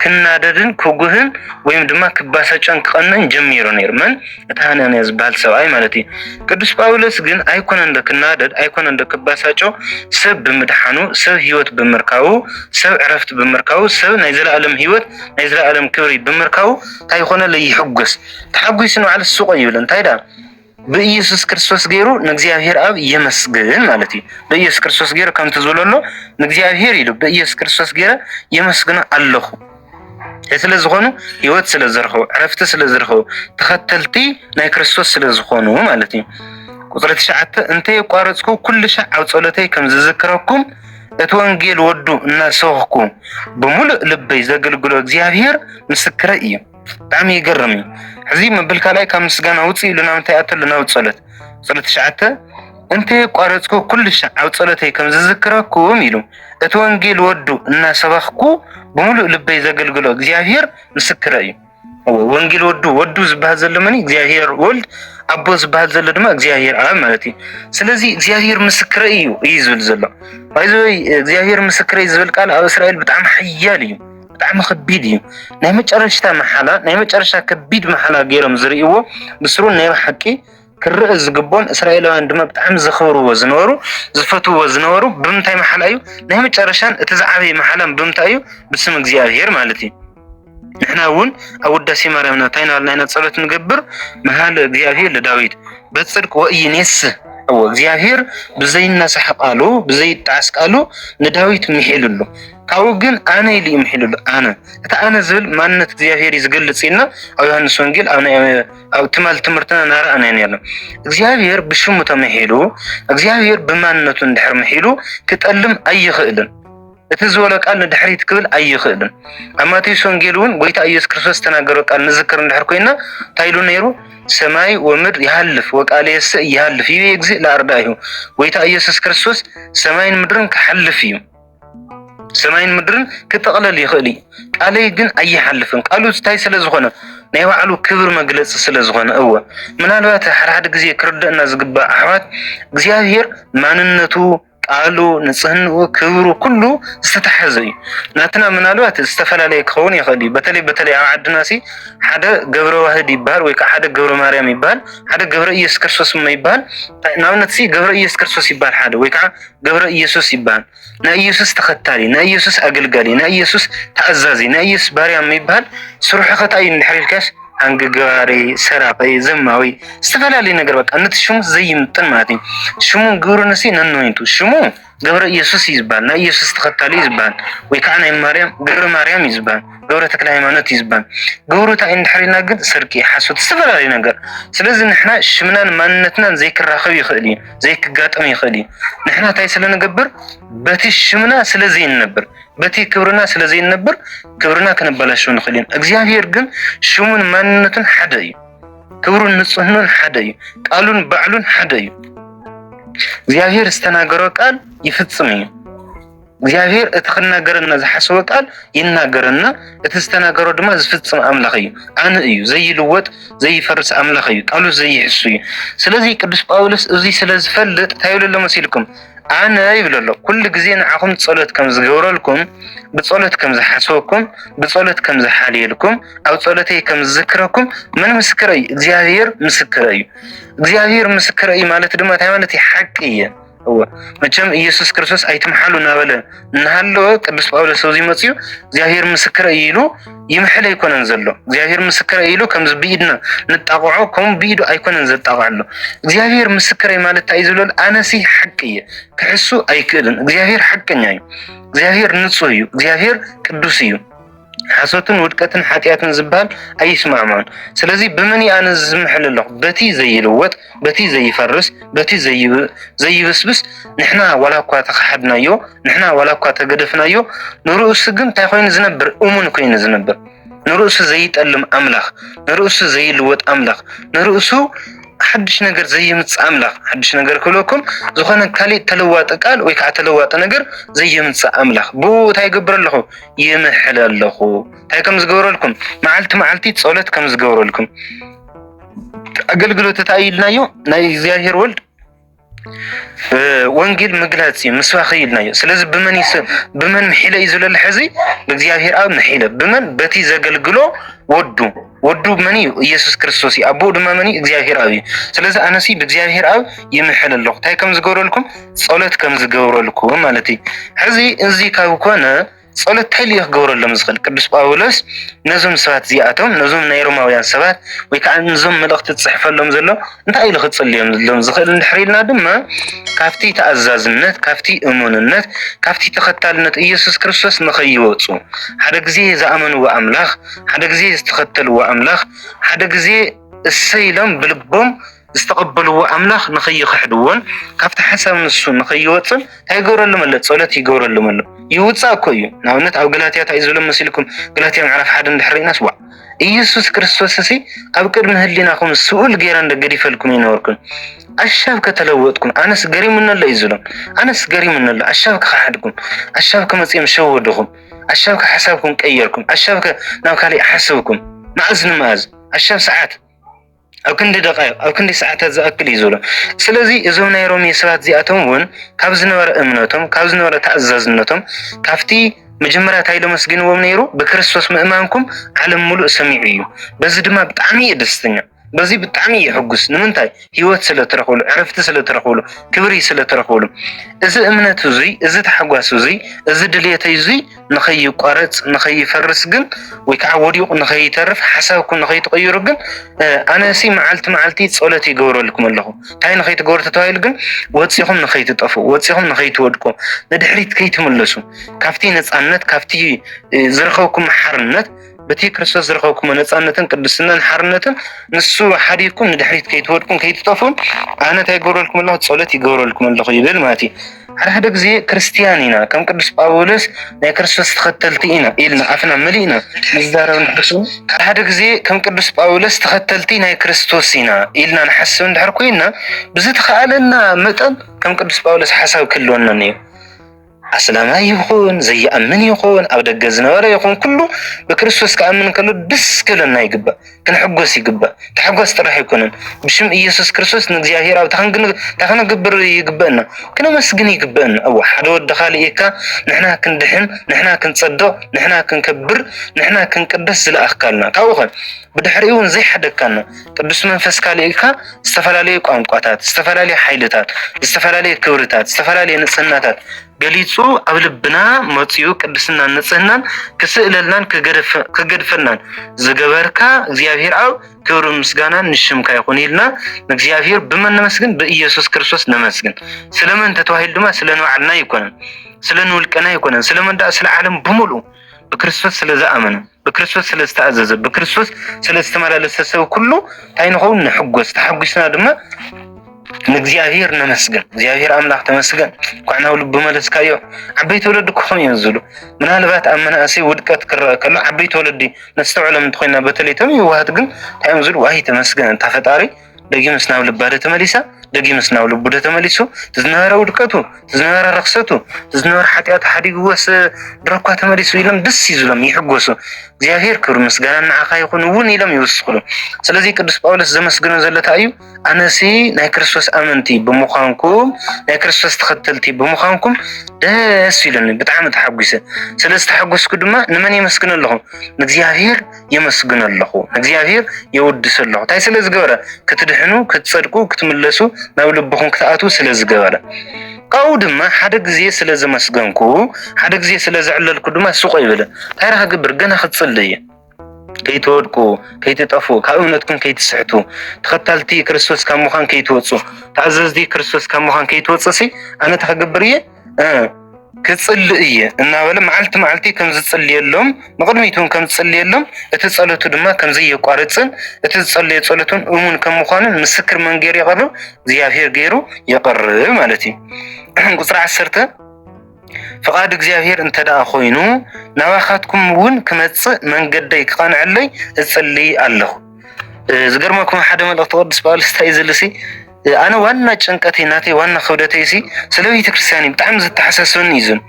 ክናደድን ክጉህን ወይም ድማ ክባሳጨን ክቐንን ጀሚሩ ነይሩ። መን እቲ ሃናንያ ዝበሃል ሰብኣይ ማለት እዩ። ቅዱስ ጳውሎስ ግን ኣይኮነ እንዶ ክናደድ፣ ኣይኮነ እንዶ ክባሳጮ፣ ሰብ ብምድሓኑ፣ ሰብ ህይወት ብምርካቡ፣ ሰብ ዕረፍቲ ብምርካቡ፣ ሰብ ናይ ዘለኣለም ህይወት ናይ ዘለኣለም ክብሪ ብምርካቡ እንታይ ይኾነለይ ይሕጎስ። ተሓጒሱ ንባዕሉ ስቕ ይብል እንታይ ደኣ ብኢየሱስ ክርስቶስ ገይሩ ንእግዚኣብሔር ኣብ የመስግን ማለት እዩ። ብኢየሱስ ክርስቶስ ገይሩ ከምቲ ዝበለሎ ንእግዚኣብሔር ኢሉ ብኢየሱስ ክርስቶስ ገይረ የመስግኖ ኣለኹ ስለ ዝኾኑ ህይወት ስለ ዝረኸቡ ዕረፍቲ ስለ ዝረኸቡ ተኸተልቲ ናይ ክርስቶስ ስለ ዝኾኑ ማለት እዩ። ቁፅሪ ትሽዓተ እንተ የቋረፅኩ ኩሉ ሻዕ ኣብ ጸሎተይ ከም ዝዝክረኩም እቲ ወንጌል ወዱ እናሰብኩ ብምሉእ ልበይ ዘገልግሎ እግዚኣብሔር ምስክረ እዩ። ብጣዕሚ ይገርም እዩ ሕዚ መብል ካልኣይ ካብ ምስጋና ውፅእ ኢሉ ናብ እንታይ ኣተሉ ናብ ፀሎት ፀሎት ትሽዓተ እንተየቋረፅኩ ኩሉ ሻዕ ኣብ ፀሎተይ ከም ዝዝክረኩም ኢሉ እቲ ወንጌል ወዱ እናሰበኽኩ ብምሉእ ልበይ ዘገልግሎ እግዚኣብሔር ምስክረ እዩ ወንጌል ወዱ ወዱ ዝበሃል ዘሎ መን እግዚኣብሔር ወልድ ኣቦ ዝበሃል ዘሎ ድማ እግዚኣብሔር ኣብ ማለት እዩ ስለዚ እግዚኣብሔር ምስክረ እዩ እዩ ዝብል ዘሎ እዚ እግዚኣብሔር ምስክረ እዩ ዝብል ቃል ኣብ እስራኤል ብጣዕሚ ሓያል እዩ ብጣዕሚ ከቢድ እዩ ናይ መጨረሽታ መሓላ ናይ መጨረሽታ ከቢድ መሓላ ገይሮም ዝርእይዎ ብስሩ ናይ ብሓቂ ክርእ ዝግቦን እስራኤላውያን ድማ ብጣዕሚ ዘኽብርዎ ዝነበሩ ዝፈትዎ ዝነበሩ ብምንታይ መሓላ እዩ ናይ መጨረሻን እቲ ዝዓበየ መሓላን ብምንታይ እዩ ብስም እግዚኣብሄር ማለት እዩ ንሕና እውን ኣብ ውዳሴ ማርያምና እንታይ ናበልና ኢና ፀሎት ንገብር መሃለ እግዚኣብሄር ለዳዊት በፅድቅ ወኢይኔስ እዎ እግዚኣብሄር ብዘይነሳሕ ቃሉ ብዘይጣዓስ ቃሉ ንዳዊት ምሒሉሉ ካብኡ ግን ኣነ ኢሉ እዩ ምሒሉ ኣሎ ኣነ እቲ ኣነ ዝብል ማንነት እግዚኣብሄር እዩ ዝገልፅ ኢልና ኣብ ዮሃንስ ወንጌል ኣብ ትማል ትምህርትና ናረኣና ነርና እግዚኣብሄር ብሽሙ ተመሒሉ እግዚኣብሄር ብማንነቱ እንድሕር ምሒሉ ክጠልም ኣይኽእልን እቲ ዝበሎ ቃል ንድሕሪት ክብል ኣይኽእልን ኣብ ማቴዎስ ወንጌል እውን ጎይታ ኢየሱስ ክርስቶስ ዝተናገሮ ቃል ንዝክር እንድሕር ኮይና እንታይ ኢሉ ነይሩ ሰማይ ወምድር ይሃልፍ ወቃለ የሰ ይሃልፍ ይቤ እግዚእ ለኣርዳኢሁ ጎይታ ኢየሱስ ክርስቶስ ሰማይን ምድርን ክሓልፍ እዩ ሰማይን ምድርን ክጥቕለል ይኽእል እዩ ቃለይ ግን ኣይሓልፍን ቃሉ እንታይ ስለ ዝኾነ ናይ ባዕሉ ክብር መግለፂ ስለ ዝኾነ እወ ምናልባት ሓድሓደ ግዜ ክርደእና ዝግባእ ኣሕዋት እግዚኣብሄር ማንነቱ ቃሉ ንፅህንኡ ክብሩ ኩሉ ዝተተሓዘ እዩ ናትና ምናልባት ዝተፈላለየ ክኸውን ይኽእል እዩ በተለይ በተለይ ኣብ ዓድና ሲ ሓደ ገብረ ዋህድ ይበሃል ወይ ከዓ ሓደ ገብረ ማርያም ይበሃል ሓደ ገብረ ኢየሱስ ክርስቶስ ይበሃል ንኣብነት ሲ ገብረ ኢየሱስ ክርስቶስ ይበሃል ሓደ ወይ ከዓ ገብረ ኢየሱስ ይበሃል። ናይ ኢየሱስ ተኸታሊ፣ ናይ ኢየሱስ ኣገልጋሊ፣ ናይ ኢየሱስ ተኣዛዚ፣ ናይ ኢየሱስ ባርያ የሚባል ስርሑ ከታ እዩ እንድሕር ኢልካስ ኣንግጋሪ፣ ሰራቂ፣ ዘማዊ ዝተፈላለዩ ነገር በቃ ነቲ ሽሙ ዘይምጥን ማለት እዩ። ሽሙ ግብሩ ንሲ ነንወይንቱ ሽሙ ገብረ ኢየሱስ እዩ ዝበሃል። ናይ ኢየሱስ ተኸታሊ እዩ ዝበሃል። ወይ ከዓ ናይ ማርያም ገብረ ማርያም እዩ ዝበሃል። ገብረ ተክለ ሃይማኖት እዩ ዝበሃል። ግብሩ እንታይ እንድሕር ኢልና ግን ስርቂ፣ ሓሶት፣ ዝተፈላለዩ ነገር ስለዚ ንሕና ሽምናን ማንነትናን ዘይክራኸብ ይኽእል እዩ። ዘይክጋጥም ይኽእል እዩ። ንሕና እንታይ ስለንገብር በቲ ሽምና ስለዘይንነብር በቲ ክብርና ስለዘይንነብር ክብርና ከነበላሸው ንኽእል ኢና። እግዚኣብሔር ግን ሽሙን ማንነቱን ሓደ እዩ። ክብሩን ንጽህኑን ሓደ እዩ። ቃሉን ባዕሉን ሓደ እዩ። እግዚኣብሔር ዝተናገሮ ቃል ይፍጽም እዩ። እግዚኣብሔር እቲ ክናገረና ዝሓሰቦ ቃል ይናገረና፣ እቲ ዝተናገሮ ድማ ዝፍጽም ኣምላኽ እዩ። ኣነ እዩ ዘይልወጥ ዘይፈርስ ኣምላኽ እዩ፣ ቃሉ ዘይሕሱ እዩ። ስለዚ ቅዱስ ጳውሎስ እዚ ስለ ዝፈልጥ እንታይ ይብለሎ መሲልኩም? ኣነ ይብለሎ ኩሉ ግዜ ንዓኹም ጸሎት ከም ዝገብረልኩም፣ ብጸሎት ከም ዝሓስበኩም፣ ብጸሎት ከም ዝሓልየልኩም፣ ኣብ ጸሎተይ ከም ዝዝክረኩም ምን ምስክረ እዩ? እግዚኣብሔር ምስክረ እዩ። እግዚኣብሔር ምስክረ እዩ ማለት ድማ እንታይ ማለት እዩ? ሓቂ እየ። እወ መቸም ኢየሱስ ክርስቶስ ኣይትምሓሉ እናበለ እናሃለወ ቅዱስ ጳውሎስ ኣብዚ መፅኡ እግዚኣብሔር ምስክረ እዩ ኢሉ ይምሕል ኣይኮነን ዘሎ እግዚኣብሔር ምስክረ ኢሉ ከምዚ ብኢድና ንጣቕዖ ከምኡ ብኢዱ ኣይኮነን ዘጣቕዕ ኣሎ እግዚኣብሔር ምስክረ ማለት እንታይ ዝብለሉ ኣነሲ ሓቂ እየ ክሕሱ ኣይክእልን እግዚኣብሔር ሓቀኛ እዩ እግዚኣብሔር ንፁህ እዩ እግዚኣብሔር ቅዱስ እዩ ሓሶትን ውድቀትን ሓጢኣትን ዝብሃል ኣይስማዕምዖን። ስለዚ ብመን እየ ኣነ ዝምሕል ኣለኹ? በቲ ዘይልወጥ፣ በቲ ዘይፈርስ፣ በቲ ዘይብስብስ ንሕና ዋላ እኳ ተኸሓድናዮ፣ ንሕና ዋላ እኳ ተገደፍናዮ፣ ንርእሱ ግን እንታይ ኮይኑ ዝነብር? እሙን ኮይኑ ዝነብር። ንርእሱ ዘይጠልም ኣምላኽ፣ ንርእሱ ዘይልወጥ ኣምላኽ፣ ንርእሱ ሓድሽ ነገር ዘይምጽእ ኣምላኽ ሓድሽ ነገር ክብለኩም ዝኾነ ካሊእ ተለዋጢ ቃል ወይ ከዓ ተለዋጢ ነገር ዘይምጽእ ኣምላኽ ብኡ እንታይ ይገብር ኣለኹ ይምሕለ ኣለኹ እንታይ ከም ዝገብረልኩም መዓልቲ መዓልቲ ጸሎት ከም ዝገብረልኩም ኣገልግሎት እንታይ ኢልናዮ ናይ እግዚኣብሔር ወልድ ወንጌል ምግላጽ እዩ ምስባኽ ኢልናዮ ስለዚ ብመን ብመን ምሒለ እዩ ዝለለ ሕዚ ብእግዚኣብሔር ኣብ ምሒለ ብመን በቲ ዘገልግሎ ወዱ ወዱ መን እዩ? ኢየሱስ ክርስቶስ እዩ። ኣቦኡ ድማ መን እዩ? እግዚኣብሔር ኣብ እዩ። ስለዚ ኣነሲ ብእግዚኣብሔር ኣብ ይምሕል ኣለኹ። እንታይ ከም ዝገብረልኩም ጸሎት ከም ዝገብረልኩም ማለት እዩ። ሕዚ እዚ ካብ ኮነ ጸሎት እንታይ ልዩ ክገብረሎም ዝኽእል? ቅዱስ ጳውሎስ ነዞም ሰባት እዚኣቶም ነዞም ናይ ሮማውያን ሰባት ወይ ከዓ ነዞም መልእኽቲ ዝጽሕፈሎም ዘሎ እንታይ ኢሉ ክጽልዮም ሎም ዝኽእል እንድሕር ኢልና ድማ ካብቲ ተኣዛዝነት፣ ካብቲ እሙንነት፣ ካብቲ ተኸታልነት ኢየሱስ ክርስቶስ ንኸይወጹ ሓደ ግዜ ዝኣመንዎ ኣምላኽ ሓደ ግዜ ዝተኸተልዎ ኣምላኽ ሓደ ግዜ እሰይ ኢሎም ብልቦም ዝተቐበልዎ ኣምላኽ ንኸይኽሕድዎን ካብቲ ሓሳብ ንሱ ንኸይወፅን እንታይ ይገብረሎም ኣሎ? ፀሎት ይገብረሎም ኣሎ። ይውፃእ እኮ እዩ። ንኣብነት ኣብ ገላትያ እንታይ እዩ ዝብሎም መሲልኩም? ገላትያ ምዕራፍ ሓደ እንድሕር ርኢናስ ዋዕ ኢየሱስ ክርስቶስ እሲ ኣብ ቅድሚ ህሊናኹም ስኡል ገይረ እንደ ገዲፈልኩም ይነበርኩም ኣሻብ ከተለወጥኩም ኣነስ ገሪሙኒ ኣሎ እዩ ዝብሎም። ኣነስ ገሪሙኒ ኣሎ ኣሻብ ክኸሓድኩም ኣሻብ ከመፅኦም ሸወድኹም ኣሻብከ ሓሳብኩም ቀየርኩም ኣሻብከ ናብ ካሊእ ሓስብኩም መኣዝ ንመኣዝ ኣሻብ ሰዓት ኣብ ክንዲ ደቃይቕ ኣብ ክንዲ ሰዓታት ዝኣክል እዩ ዝብሎ። ስለዚ እዞም ናይ ሮሜ ሰባት እዚኣቶም እውን ካብ ዝነበረ እምነቶም ካብ ዝነበረ ተኣዛዝነቶም ካብቲ መጀመርያ እንታይ ኢሎም ኣመስጊንዎም ነይሩ ብክርስቶስ ምእማንኩም ዓለም ሙሉእ ሰሚዑ እዩ። በዚ ድማ ብጣዕሚ እዩ ደስተኛ። በዚ ብጣዕሚ ይሕጉስ ንምንታይ ህይወት ስለ ትረኽብሉ ዕረፍቲ ስለ ትረኽብሉ ክብሪ ስለ ትረኽብሉ እዚ እምነት እዙይ እዚ ታሕጓስ እዙይ እዚ ድልየተይ እዙይ ንኸይቋረፅ ንኸይፈርስ ግን ወይ ከዓ ወዲቑ ንኸይተርፍ ሓሳብኩም ንኸይትቕይሩ ግን ኣነሲ መዓልቲ መዓልቲ ፀሎት ይገብረልኩም ኣለኹ እንታይ ንኸይትገብሩ ተተባሂሉ ግን ወፂኹም ንኸይትጠፉ ወፂኹም ንኸይትወድቁ ንድሕሪት ከይትምለሱ ካብቲ ነፃነት ካብቲ ዝረኸብኩም ሓርነት በቲ ክርስቶስ ዝረኸብኩሞ ነፃነትን ቅድስናን ሓርነትን ንሱ ሓዲርኩም ንድሕሪት ከይትወድቁን ከይትጠፍኡን ኣነ እንታይ ይገብረልኩም ኣለኹ ፀሎት ይገብረልኩም ኣለኹ ይብል ማለት እዩ ሓደ ሓደ ግዜ ክርስትያን ኢና ከም ቅዱስ ጳውሎስ ናይ ክርስቶስ ተኸተልቲ ኢና ኢልና ኣፍና መሊእና ንዛረብ ንሕሱ ሓደ ሓደ ግዜ ከም ቅዱስ ጳውሎስ ተኸተልቲ ናይ ክርስቶስ ኢና ኢልና ንሓስብ እንድሕር ኮይና ብዝተኸኣለና መጠን ከም ቅዱስ ጳውሎስ ሓሳብ ክህልወና እዩ ኣስላማይ ይኹን ዘይኣምን ይኹን ኣብ ደገ ዝነበረ ይኹን ኩሉ ብክርስቶስ ክኣምን ከሎ ደስ ክብለና ይግባእ፣ ክንሕጎስ ይግባእ። ታሕጓስ ጥራሕ ኣይኮነን ብሽም ኢየሱስ ክርስቶስ ንእግዚኣብሔር ኣብ ታክንገብር ይግበእና ክነመስግን ይግበእና። እወ ሓደ ወዲ ካልእ ኢካ ንሕና ክንድሕን ንሕና ክንጸድቕ ንሕና ክንከብር ንሕና ክንቅደስ ዝለኣኽካልና ካብኡ ኸ ብድሕሪኡ እውን ዘይሓደግካና ቅዱስ መንፈስካ ልኢልካ ዝተፈላለዩ ቋንቋታት፣ ዝተፈላለዩ ሓይልታት፣ ዝተፈላለዩ ክብርታት፣ ዝተፈላለዩ ንጽህናታት ገሊጹ ኣብ ልብና መጺኡ ቅድስናን ንጽህናን ክስእለልናን ክገድፈናን ዝገበርካ እግዚኣብሔር ኣብ ክብሪ ምስጋናን ንሽምካ ይኹን ኢልና ንእግዚኣብሔር ብመን ነመስግን? ብኢየሱስ ክርስቶስ ነመስግን። ስለመን ተተዋሂሉ ድማ ስለ ንባዕልና ኣይኮነን፣ ስለ ንውልቅና ኣይኮነን፣ ስለመን ስለ ዓለም ብምሉእ ብክርስቶስ ስለ ዝኣመነ ብክርስቶስ ስለ ዝተኣዘዘ ብክርስቶስ ስለ ዝተመላለሰ ሰብ ኩሉ እንታይ ንኸውን ንሕጎስ ተሓጒስና ድማ ንእግዚኣብሔር ነመስገን እግዚኣብሔር ኣምላኽ ተመስገን እንኳዕ ናብ ልቡ መለስካዮ ዓበይቲ ወለዲ ክኾኑ እዮም ዝብሉ ምናልባት ኣብ መናእሰይ ውድቀት ክረአ ከሎ ዓበይቲ ወለዲ ነስተውዕሎም እንተኮይና በተለይ እቶም ይዋሃት ግን እንታይ እዮም ዝብሉ ዋይ ተመስገን እንታ ፈጣሪ ደጊምስ ናብ ልባደ ተመሊሳ ደጊምስ ናብ ልቡደ ተመሊሱ ዝነበረ ውድቀቱ ዝነበረ ረክሰቱ ዝነበረ ሓጢኣቱ ሓዲግዎስ ድረኳ ተመሊሱ ኢሎም ደስ ይዝሎም ይሕጎሱ እግዚኣብሔር ክብሪ ምስጋና ንዓኻ ይኹን እውን ኢሎም ይውስኽሉ ስለዚ ቅዱስ ጳውሎስ ዘመስግኖ ዘሎ እንታይ እዩ ኣነሲ ናይ ክርስቶስ ኣመንቲ ብምዃንኩም ናይ ክርስቶስ ተኸተልቲ ብምዃንኩም ደስ ኢሉኒ ብጣዕሚ ተሓጒሰ ስለ ዝተሓጎስኩ ድማ ንመን የመስግነ ኣለኹ ንእግዚኣብሔር የመስግኖ ኣለኹ እግዚኣብሔር የወድሶ ኣለኹ እንታይ ስለ ዝገበረ ክትድሕኑ ክትጸድቁ ክትምለሱ ናብ ልብኹም ክትኣትዉ ስለ ዝገበረ ካብኡ ድማ ሓደ ግዜ ስለ ዘመስገንኩ ሓደ ግዜ ስለ ዘዕለልኩ ድማ ስቆ ይብል እንታይ ዳ ክገብር ገና ክጽሊ እዩ ከይትወድቁ ከይትጠፉ ካብ እምነትኩም ከይትስሕቱ ተኸታልቲ ክርስቶስ ካብ ምዃን ከይትወፁ ተኣዘዝቲ ክርስቶስ ካብ ምዃን ከይትወፅእ ሲ ኣነ እንታይ ክገብር እየ ክጽልእ እየ እናበለ መዓልቲ መዓልቲ ከም ዝጽልየሎም ንቕድሚት እውን ከም ዝጽልየሎም እቲ ጸሎቱ ድማ ከም ዘየቋርጽን እቲ ዝጸለየ ጸሎት እውን እሙን ከም ምዃኑን ምስክር መን ገይሩ የቐርብ እግዚኣብሄር ገይሩ የቐርብ ማለት እዩ ቁፅሪ ዓሰርተ ፍቓድ እግዚኣብሄር እንተ ደኣ ኮይኑ ናባኻትኩም እውን ክመጽእ መንገደይ ክቐንዐለይ እጽልይ ኣለኹ ዝገርመኩም ሓደ መልእኽቲ ቅዱስ ጳውሎስ እንታይ እዩ ዝልሲ ኣነ ዋና ጭንቀተይ ናተይ ዋና ክብደተይ ሲ ስለ ቤተክርስትያን ብጣዕሚ ዘተሓሳስበኒ እዩ ዞን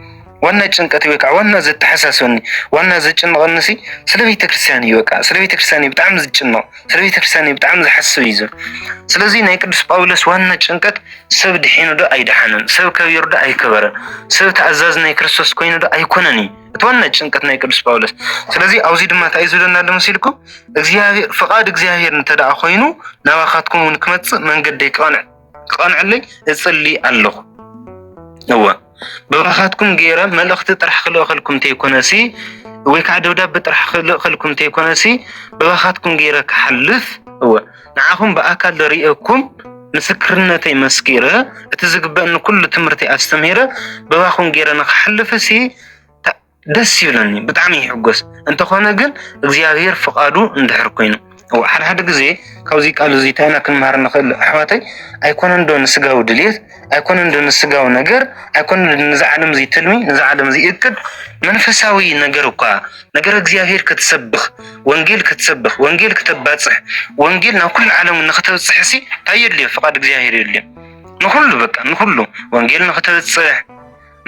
ዋና ጭንቀተይ ወይ ከዓ ዋና ዘተሓሳስበኒ ዋና ዘጭንቐኒ ሲ ስለ ቤተክርስትያን እዩ በቃ ስለ ቤተክርስትያን እዩ ብጣዕሚ ዝጭነቕ ስለ ቤተክርስትያን እዩ ብጣዕሚ ዝሓስብ እዩ ዞን ስለዚ ናይ ቅዱስ ጳውሎስ ዋና ጭንቀት ሰብ ድሒኑ ዶ ኣይደሓነን ሰብ ከቢሩ ዶ ኣይከበረን ሰብ ተኣዛዝ ናይ ክርስቶስ ኮይኑ ዶ ኣይኮነን እዩ እቲ ዋና ጭንቀት ናይ ቅዱስ ጳውሎስ። ስለዚ ኣብዚ ድማ እንታይ እዩ ዝብለና ኣሎ መሲልኩም? እግዚኣብሔር ፍቓድ እግዚኣብሔር እንተ ደኣ ኮይኑ ናባኻትኩም እውን ክመጽእ መንገደይ ክቐንዕ ክቐንዐለይ እጽሊ ኣለኹ። እወ ብራኻትኩም ገይረ መልእኽቲ ጥራሕ ክልእኸልኩም እንተይኮነሲ ወይ ከዓ ደብዳቤ ጥራሕ ክልእኸልኩም እንተይኮነሲ ብራኻትኩም ገይረ ክሓልፍ እወ ንዓኹም ብኣካል ደሪኤኩም ምስክርነተይ መስኪረ እቲ ዝግበእኒ ኩሉ ትምህርቲ ኣስተምሂረ ብባኹም ገይረ ንክሓልፍ ሲ ደስ ይብለኒ ብጣዕሚ ይሕጎስ። እንተኾነ ግን እግዚኣብሔር ፍቃዱ እንድሕር ኮይኑ ሓደ ሓደ ግዜ ካብዚ ቃል እዚ እንታይ ኢና ክንመሃር ንኽእል ኣሕዋተይ ኣይኮነን ዶ ንስጋዊ ድልየት ኣይኮነን ዶ ንስጋዊ ነገር ኣይኮነን ንዚ ዓለም እዚ ትልሚ ንዚ ዓለም እዚ እቅድ መንፈሳዊ ነገር እኳ ነገር እግዚኣብሔር ክትሰብኽ ወንጌል ክትሰብኽ ወንጌል ክተባፅሕ ወንጌል ናብ ኩሉ ዓለም ንክተብፅሕ ሲ እንታይ የድልዮ ፍቃድ እግዚኣብሔር የድልዮ ንኩሉ በቃ ንኩሉ ወንጌል ንክተብፅሕ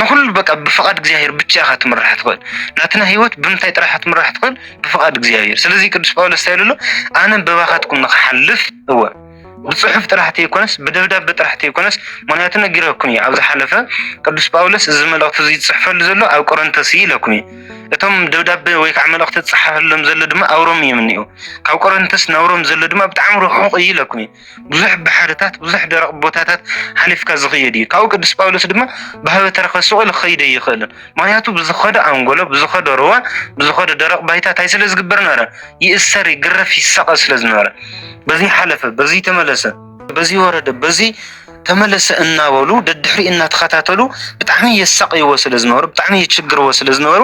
ንኹሉ በቃ ብፍቓድ እግዚኣብሔር ብቻ ኢኻ ትምራሕ ትኽእል ናትና ህይወት ብምንታይ ጥራሕ ትምራሕ ትኽእል ብፍቓድ እግዚኣብሔር ስለዚ ቅዱስ ጳውሎስ እንታይ ኣሎ ኣነ በባኻትኩም ንክሓልፍ እወ ብፅሑፍ ጥራሕ ተይኮነስ ብደብዳቤ ጥራሕ ተይኮነስ ምክንያቱ ነጊረኩም እዩ ኣብ ዝሓለፈ ቅዱስ ጳውሎስ እዚ መልእኽቲ እዚ ዝፅሕፈሉ ዘሎ ኣብ ቆረንተስ እዩ ኢለኩም እዩ እቶም ደብዳቤ ወይ ከዓ መልእኽቲ ዝፅሓፈሎም ዘሎ ድማ ኣብ ሮም እዮም እኒኦ ካብ ቆረንተስ ናብ ሮም ዘሎ ድማ ብጣዕሚ ርሑቕ እዩ ኢለኩም እዩ ብዙሕ ባሕርታት ብዙሕ ደረቕ ቦታታት ሓሊፍካ ዝኸየድ እዩ። ካብኡ ቅዱስ ጳውሎስ ድማ ብሃበ ተረኸ ስቑል ክኸይድ ኣይኽእልን። ምክንያቱ ብዝኸዶ ኣንጎሎ፣ ብዝኸዶ ሩባ፣ ብዝኸዶ ደረቕ ባይታ እንታይ ስለ ዝግበር ነበረ? ይእሰር፣ ይግረፍ፣ ይሳቐ ስለ ዝነበረ። በዚ ሓለፈ፣ በዚ ተመለሰ፣ በዚ ወረደ፣ በዚ ተመለሰ እናበሉ ደድሕሪ እናተኸታተሉ ብጣዕሚ የሳቅይዎ ስለ ዝነበሩ ብጣዕሚ የችግርዎ ስለ ዝነበሩ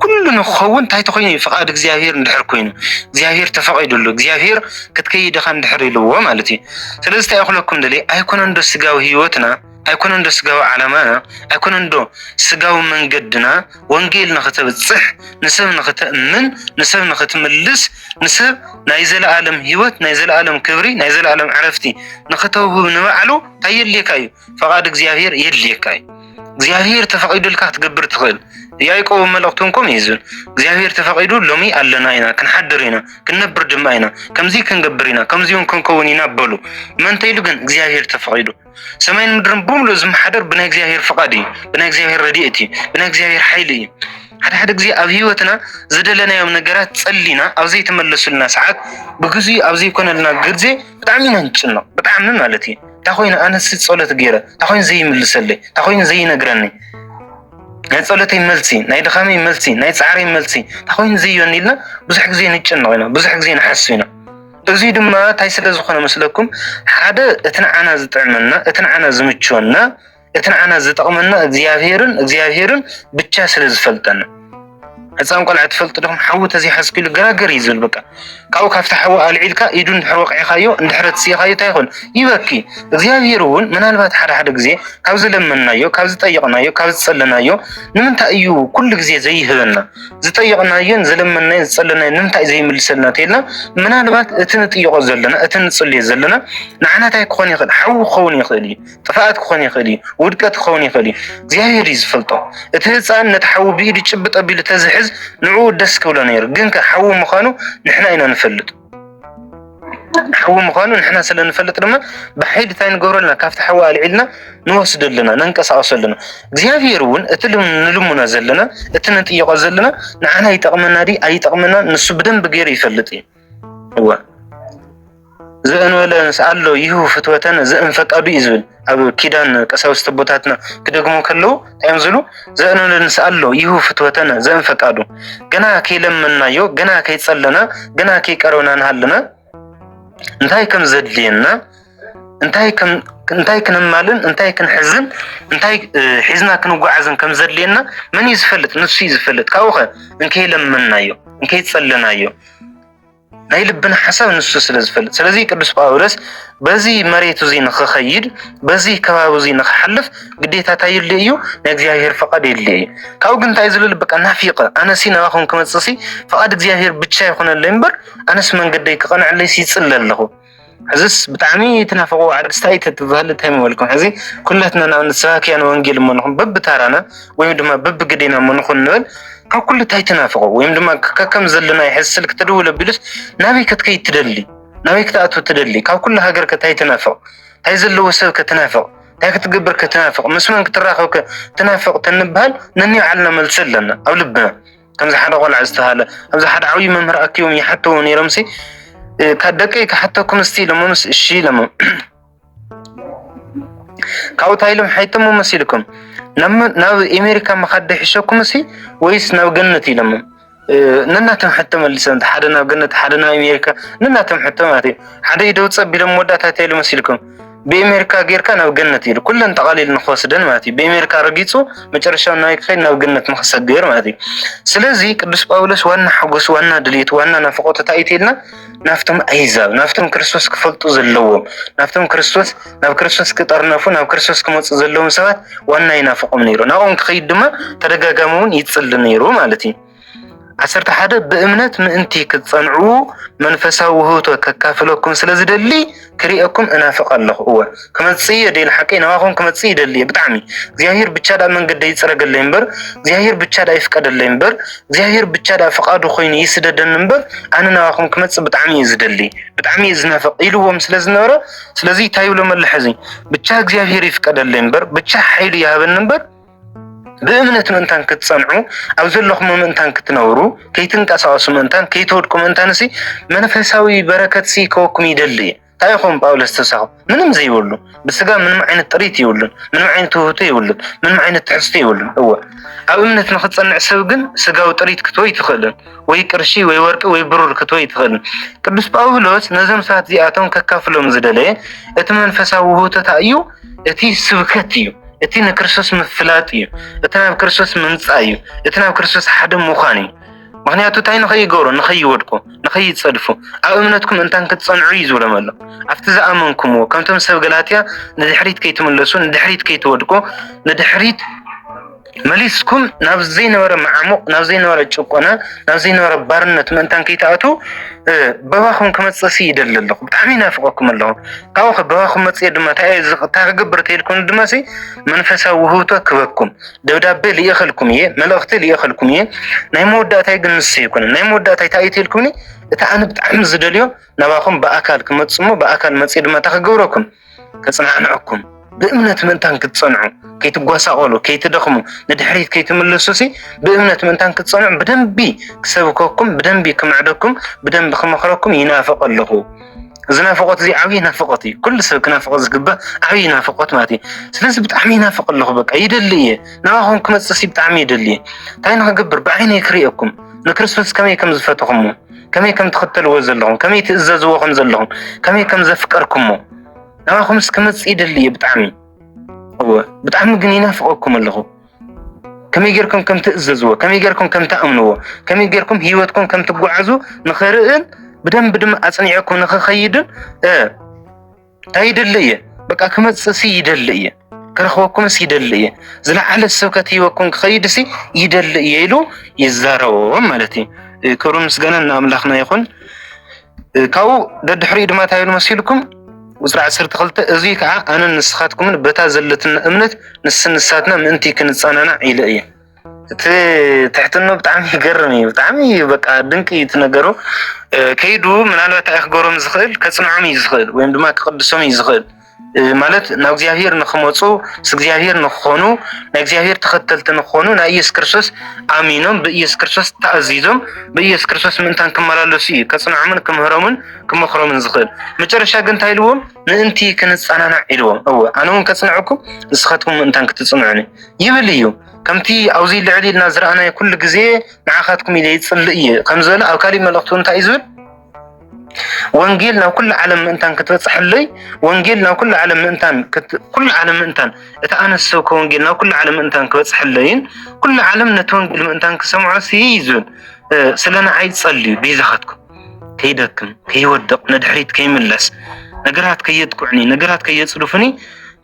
ኩሉ ንክኸውን እንታይ ተኮይኑ እዩ ፍቃድ እግዚኣብሄር እንድሕር ኮይኑ እግዚኣብሄር ተፈቂድሉ እግዚኣብሄር ክትከይድ ኢኻ እንድሕር ኢልዎ ማለት እዩ ስለዚ እንታይ እኽለኩም ደልየ ኣይኮነን ዶ ስጋዊ ህይወትና ኣይኮነን ዶ ስጋዊ ዓላማና ኣይኮነን ዶ ስጋዊ መንገድና ወንጌል ንክተብፅሕ ንሰብ ንክተእምን ንሰብ ንክትምልስ ንሰብ ናይ ዘለኣለም ሂወት ናይ ዘለኣለም ክብሪ ናይ ዘለኣለም ዕረፍቲ ንክተውህብ ንባዕሉ እንታይ የድልየካ እዩ ፈቓድ እግዚኣብሔር የድልየካ እዩ እግዚኣብሔር ተፈቒዱልካ ክትገብር ትኽእል ያዕቆብ መልእኽቱ እንኮም እዩ ዝብል እግዚኣብሔር ተፈቒዱ ሎሚ ኣለና ኢና ክንሓድር ኢና ክንነብር ድማ ኢና ከምዚ ክንገብር ኢና ከምዚውን ክንከውን ኢና በሉ መንተ ኢሉ ግን እግዚኣብሔር ተፈቒዱ ሰማይን ምድርን ብምሉእ ዝመሓደር ብናይ እግዚኣብሔር ፍቃድ እዩ፣ ብናይ እግዚኣብሔር ረድኤት እዩ፣ ብናይ እግዚኣብሔር ሓይሊ እዩ። ሓደ ሓደ ግዜ ኣብ ህይወትና ዝደለናዮም ነገራት ጸሊና ኣብ ዘይተመለሱልና ሰዓት ብግዜ ኣብ ዘይኮነልና ግዜ ብጣዕሚ ኢና ንጭነቕ፣ ብጣዕሚ ማለት እዩ። እንታ ኮይኑ ኣነሲ ጸሎት ገይረ፣ እንታ ኮይኑ ዘይምልሰለይ፣ እንታ ኮይኑ ዘይነግረኒ ናይ ጸሎተይ መልሲ፣ ናይ ድኻመይ መልሲ፣ ናይ ጻዕረይ መልሲ እንታ ኮይኑ ዘይዮኒ ኢልና ብዙሕ ግዜ ንጭነቕ ኢና፣ ብዙሕ ግዜ ንሓሱ ኢና። እዙይ ድማ እንታይ ስለ ዝኾነ መስለኩም ሓደ እቲ ንዓና ዝጥዕመና እቲ ንዓና ዝምችወና እቲ ንዓና ዝጠቕመና እግዚኣብሄርን እግዚኣብሄርን ብቻ ስለ ዝፈልጠና ህፃን ቆልዓ ትፈልጡ ዲኹም ሓዊ ተዘይሓዝክሉ ገራገር እዩ ዝብል በቃ ካብኡ ካብቲ ሓዊ ኣልዒልካ ኢዱ እንድሕር ወቂዕካዮ እንድሕር ትስኢኻዮ እንታይ ይኾን ይበኪ እግዚኣብሄር እውን ምናልባት ሓደ ሓደ ግዜ ካብ ዝለመናዮ ካብ ዝጠየቕናዮ ካብ ዝፀለናዮ ንምንታይ እዩ ኩሉ ግዜ ዘይህበና ዝጠየቕናዮን ዝለመናዮ ዝፀለናዮ ንምንታይ ዘይምልሰልና ተይልና ምናልባት እቲ ንጥይቆ ዘለና እቲ ንፅልዮ ዘለና ንዓናታይ ክኾን ይኽእል ሓዊ ክኸውን ይኽእል እዩ ጥፍኣት ክኾን ይኽእል እዩ ውድቀት ክኸውን ይኽእል እዩ እግዚኣብሔር እዩ ዝፈልጦ እቲ ህፃን ነቲ ሓዊ ብኢዱ ጭብጥ ኣቢሉ ተዝሕዝ ንዕኡ ደስ ክብሎ ነይሩ ግን ከ ሓዊ ምዃኑ ንሕና ኢና ንፈልጥ ሓዊ ምዃኑ ንሕና ስለ ንፈልጥ ድማ ብሓይሊ እንታይ ንገብሮ ኣለና ካብቲ ሓዊ ኣልዒልና ንወስዶ ኣለና ነንቀሳቐሶ ኣለና እግዚኣብሔር እውን እቲ ንልምኖ ዘለና እቲ ንጥይቆ ዘለና ንዓና ይጠቕመና ዲ ኣይጠቕመና ንሱ ብደንብ ገይሩ ይፈልጥ እዩ እወ ዘእንበለ ኣሎ ይህቡ ፍትወተን ዘእንፈቀዱ እዩ ዝብል ኣብ ኪዳን ቀሳውስት ኣቦታትና ክደግሙ ከለዉ ታይም ዝሉ ዘእነንን ስኣሎ ይሁ ፍትወተነ ዘእንፈቃዱ ገና ከይለመናዮ ገና ከይጸለና ገና ከይቀረብና ንሃለና እንታይ ከም ዘድልየና እንታይ ከም እንታይ ክንማልን እንታይ ክንሕዝን እንታይ ሒዝና ክንጓዓዝን ከም ዘድልየና መን እዩ ዝፈልጥ ንሱ እዩ ዝፈልጥ ካብኡ ከ እንከይለመናዮ እንከይጸለናዮ ናይ ልብና ሓሳብ ንሱ ስለ ዝፈልጥ ስለዚ ቅዱስ ጳውሎስ በዚ መሬት እዚ ንክኸይድ በዚ ከባቢ እዚ ንክሓልፍ ግዴታ እንታይ ይድልዮ እዩ ናይ እግዚኣብሔር ፈቃድ የድልዮ እዩ ካብኡ ግን እንታይ ዝልል በቃ ናፊቀ ኣነሲ ናባኹም ክመፅእሲ ፈቃድ እግዚኣብሔር ብቻ ይኹነለይ እምበር ኣነስ መንገደይ ክቐንዐለይሲ ይፅለ ኣለኹ ሕዝስ ብጣዕሚ ትናፍቕዎ ዓርስ ታይ ተትብሃሉ ታይ ምበልኩም ሕዚ ኩላትና ንኣብነት ሰባክያን ወንጌል እሞ ንኹን በብታራና ወይም ድማ በብግዴና እሞ ንኹን ንበል ካብ ኩሉ ታይ ትናፍቑ ወይም ድማ ከከም ዘለናይ ሕዚ ስልክ ትድውል ኣቢሉስ ናበይ ከትከይድ ትደሊ ናበይ ክትኣቱ ትደሊ ካብ ኩሉ ሃገር ከ ታይ ትናፍቕ ታይ ዘለዎ ሰብ ከ ትናፍቕ ታይ ክትገብር ከ ትናፍቕ ምስ መን ክትራኸብ ከ ትናፍቕ ተንብሃል ነኒባዕልና መልሱ ኣለና ኣብ ልብና ከምዚ ሓደ ቆልዓ ዝተሃለ ኣብዚ ሓደ ዓብዪ መምህር ኣኪቦም ይሓተው ነይሮም ሲ ካብ ደቀይ ክሓተኩም እስቲ ኢሎሞምስ እሺ ኢሎሞ ካብኡ እንታይ ኢሎም ሓይቶሞ መሲልኩም ናብ ኤሜሪካ ምኻድ ደሒሸኩም ሲ ወይስ ናብ ገነት ኢሎሞ ነናቶም ሕቶ መሊሶም ሓደ ናብ ገነት ሓደ ናብ ኤሜሪካ ነናቶም ሕቶ ማለት እዩ ሓደ ኢደ ውፅ ኣቢሎም መወዳእታ እንታይ ኢሎም መሲልኩም ብኤሜሪካ ጌርካ ናብ ገነት ኢሉ ኩለን ጠቓሊሉ ንክወስደን ማለት እዩ ብኤሜሪካ ረጊጹ መጨረሻው ናይ ክኸይድ ናብ ገነት ንክሰግር ማለት እዩ ስለዚ ቅዱስ ጳውሎስ ዋና ሓጎስ ዋና ድልየት ዋና ናፍቆት እንታይ ኢልና ናብቶም ኣህዛብ ናብቶም ክርስቶስ ክፈልጡ ዘለዎም ናብቶም ክርስቶስ ናብ ክርስቶስ ክጠርነፉ ናብ ክርስቶስ ክመፁ ዘለዎም ሰባት ዋና ይናፍቆም ነይሩ ናብኦም ክኸይድ ድማ ተደጋጋሚ እውን ይፅሊ ነይሩ ማለት እዩ ዓሰርተ ሓደ ብእምነት ምእንቲ ክትጸንዑ መንፈሳዊ ውህብቶ ከካፍለኩም ስለ ዝደሊ ክርእየኩም እናፍቕ ኣለኹ እወ ክመጽእ እየ ደይ ንሓቀይ ናባኹም ክመጽእ ይደሊ እየ ብጣዕሚ እግዚኣብሔር ብቻ ዳኣ መንገደይ ይጽረገለይ እምበር እግዚኣብሔር ብቻ ዳኣ ይፍቀደለይ እምበር እግዚኣብሔር ብቻ ዳኣ ፍቓዱ ኮይኑ ይስደደኒ እምበር ኣነ ናባኹም ክመጽእ ብጣዕሚ እየ ዝደሊ ብጣዕሚ እየ ዝናፍቕ ኢልዎም ስለ ዝነበረ ስለዚ እንታይ ይብሎም ኣሎ ሕዚ ብቻ እግዚኣብሔር ይፍቀደለይ እምበር ብቻ ሓይሉ ይሃበኒ እምበር ብእምነት ምእንታን ክትጸንዑ ኣብ ዘለኹም ምእንታን ክትነብሩ ከይትንቀሳቀሱ ምእንታን ከይትወድቁ ምእንታን ሲ መንፈሳዊ በረከት ሲ ከወኩም ይደሊ እዩ እንታይ ይኸውን ጳውሎስ ተሳኹ ምንም ዘይብሉ ብስጋ ምንም ዓይነት ጥሪት ይብሉን ምንም ዓይነት ውህብቶ ይብሉን ምንም ዓይነት ትሕዝቶ ይብሉን እወ ኣብ እምነት ንክትጸንዕ ሰብ ግን ስጋዊ ጥሪት ክትወ ይትኽእልን ወይ ቅርሺ ወይ ወርቂ ወይ ብሩር ክትወ ይትኽእልን ቅዱስ ጳውሎስ ነዞም ሰባት እዚኣቶም ከካፍሎም ዝደለየ እቲ መንፈሳዊ ውህብቶታ እዩ እቲ ስብከት እዩ። እቲ ንክርስቶስ ምፍላጥ እዩ። እቲ ናብ ክርስቶስ ምምፃእ እዩ። እቲ ናብ ክርስቶስ ሓደ ምዃን እዩ። ምክንያቱ እንታይ ንኸይገብሩ ንኸይወድቁ ንኸይፀድፉ ኣብ እምነትኩም እንታን ክትፀንዑ እዩ ዝብሎም ኣሎ ኣብቲ ዝኣመንኩምዎ ከምቶም ሰብ ገላትያ ንድሕሪት ከይትምለሱ ንድሕሪት ከይትወድቁ ንድሕሪት መሊስኩም ናብ ዘይነበረ መዓሙቕ ናብ ዘይነበረ ጭቆና ናብ ዘይነበረ ባርነት ምእንታን ከይትኣትው በባኹም ክመፅእ ሲ ይደሊ ኣለኹ ብጣዕሚ ይናፍቐኩም ኣለኹ ካብኡ ከ በባኹም መፅኤ ድማ እንታይ ክገብር ተይልኩም ድማ ሲ መንፈሳዊ ውህብቶ ክበኩም ደብዳቤ ልኢኸልኩም እየ መልእኽቲ ልኢኸልኩም እየ ናይ መወዳእታይ ግን ንሱ ይኮነ ናይ መወዳእታይ እንታይ እዩ ተይልኩምኒ እቲ ኣነ ብጣዕሚ ዝደልዮ ናባኹም ብኣካል ክመፅሞ ብኣካል መፅኤ ድማ እንታይ ክገብረኩም ከጽናዕንዐኩም ብእምነት ምእንታን ክትጸንዑ ከይትጓሳቆሉ ከይትደኽሙ ንድሕሪት ከይትምልሱ ሲ ብእምነት ምእንታን ክትጸንዑ ብደንቢ ክሰብከኩም ብደንቢ ክምዕደኩም ብደንቢ ክመኽረኩም ይናፍቕ ኣለኹ እዚ ናፍቆት እዚ ዓብዪ ናፍቆት እዩ ኩሉ ሰብ ክናፍቆ ዝግባእ ዓብዪ ናፍቆት ማለት እዩ ስለዚ ብጣዕሚ ይናፍቕ ኣለኹ በቃ ይደሊ እየ ናባኹም ክመፅእ ሲ ብጣዕሚ ይደሊ እየ እንታይ ንክገብር ብዓይነይ ክርእየኩም ንክርስቶስ ከመይ ከም ዝፈትኹሞ ከመይ ከም ትኽተልዎ ዘለኹም ከመይ ትእዘዝዎ ከም ዘለኹም ከመይ ከም ዘፍቀርኩሞ ንዓኹምስ ክመፅእ ይደሊ እየ ብጣዕሚ እወ ብጣዕሚ ግን ይናፍቐኩም ኣለኹ ከመይ ጌርኩም ከም ትእዘዝዎ ከመይ ጌርኩም ከም ትኣምንዎ ከመይ ጌርኩም ሂወትኩም ከም ትጓዓዙ ንኽርእን ብደንብ ድማ ኣፅኒዐኩም ንኽኸይድን እንታይ ይደሊ እየ በቃ ክመፅእ ሲ ይደሊ እየ ክረኽበኩምስ ይደሊ እየ ዝለዓለ ስብከት ሂበኩም ክኸይድ ሲ ይደሊ እየ ኢሉ ይዛረቦም ማለት እዩ። ክብርን ምስጋናን ንኣምላኽና ይኹን። ካብኡ ደድሕሪኡ ድማ እንታይ ኢሉ መሲልኩም ቁፅሪ ዓሰርተ ክልተ እዙይ ከዓ ኣነን ንስኻትኩምን በታ ዘለትና እምነት ንስንሳትና ምእንቲ ክንፀናናዕ ኢለ እየ እቲ ትሕትኖ ብጣዕሚ ይገርም እዩ። ብጣዕሚ እዩ በቃ ድንቂ እዩ እቲ ነገሩ። እ፣ ከይዱ ምናልባት እንታይ ክገብሮም ዝኽእል ከጽንዖም እዩ ዝኽእል ወይም ድማ ክቅድሶም እዩ ዝኽእል እ፣ ማለት ናብ እግዚኣብሔር ንክመፁ ምስ እግዚኣብሔር ንክኾኑ ናይ እግዚኣብሔር ተኸተልቲ ንክኾኑ ናይ ኢየሱስ ክርስቶስ ኣሚኖም ብኢየሱስ ክርስቶስ ተኣዚዞም ብኢየሱስ ክርስቶስ ምእንታን ክመላለሱ እዩ ከጽንዖምን ክምህሮምን ክመኽሮምን ዝኽእል። መጨረሻ ግን እንታይ ኢልዎም ምእንቲ ክንጸናናዕ ኢልዎም። እወ ኣነ እውን ከጽንዐኩም ንስኻትኩም ምእንታን ክትጽንዑኒ ይብል እዩ ከምቲ ኣብዚ ልዕል ኢልና ዝረኣናዮ ኩሉ ግዜ ንዓኻትኩም ኢለ ይጽልእ እየ ከም ዝበለ ኣብ ካሊእ መልእኽቱ እንታይ እዩ ዝብል ወንጌል ናብ ኩሉ ዓለም ምእንታን ክትበጽሐለይ ወንጌል ናብ ኩሉ ዓለም ምእንታን ኩሉ ዓለም ምእንታን እቲ ኣነ ዝሰብከ ወንጌል ናብ ኩሉ ዓለም ምእንታን ክበጽሐለይን ኩሉ ዓለም ነቲ ወንጌል ምእንታን ክሰምዖ ሲ እዩ ዝብል ስለ ንዓይ ጸልዩ ቤዛኻትኩም ከይደክም ከይወድቕ ንድሕሪት ከይምለስ ነገራት ከየጥቅዑኒ ነገራት ከየጽድፉኒ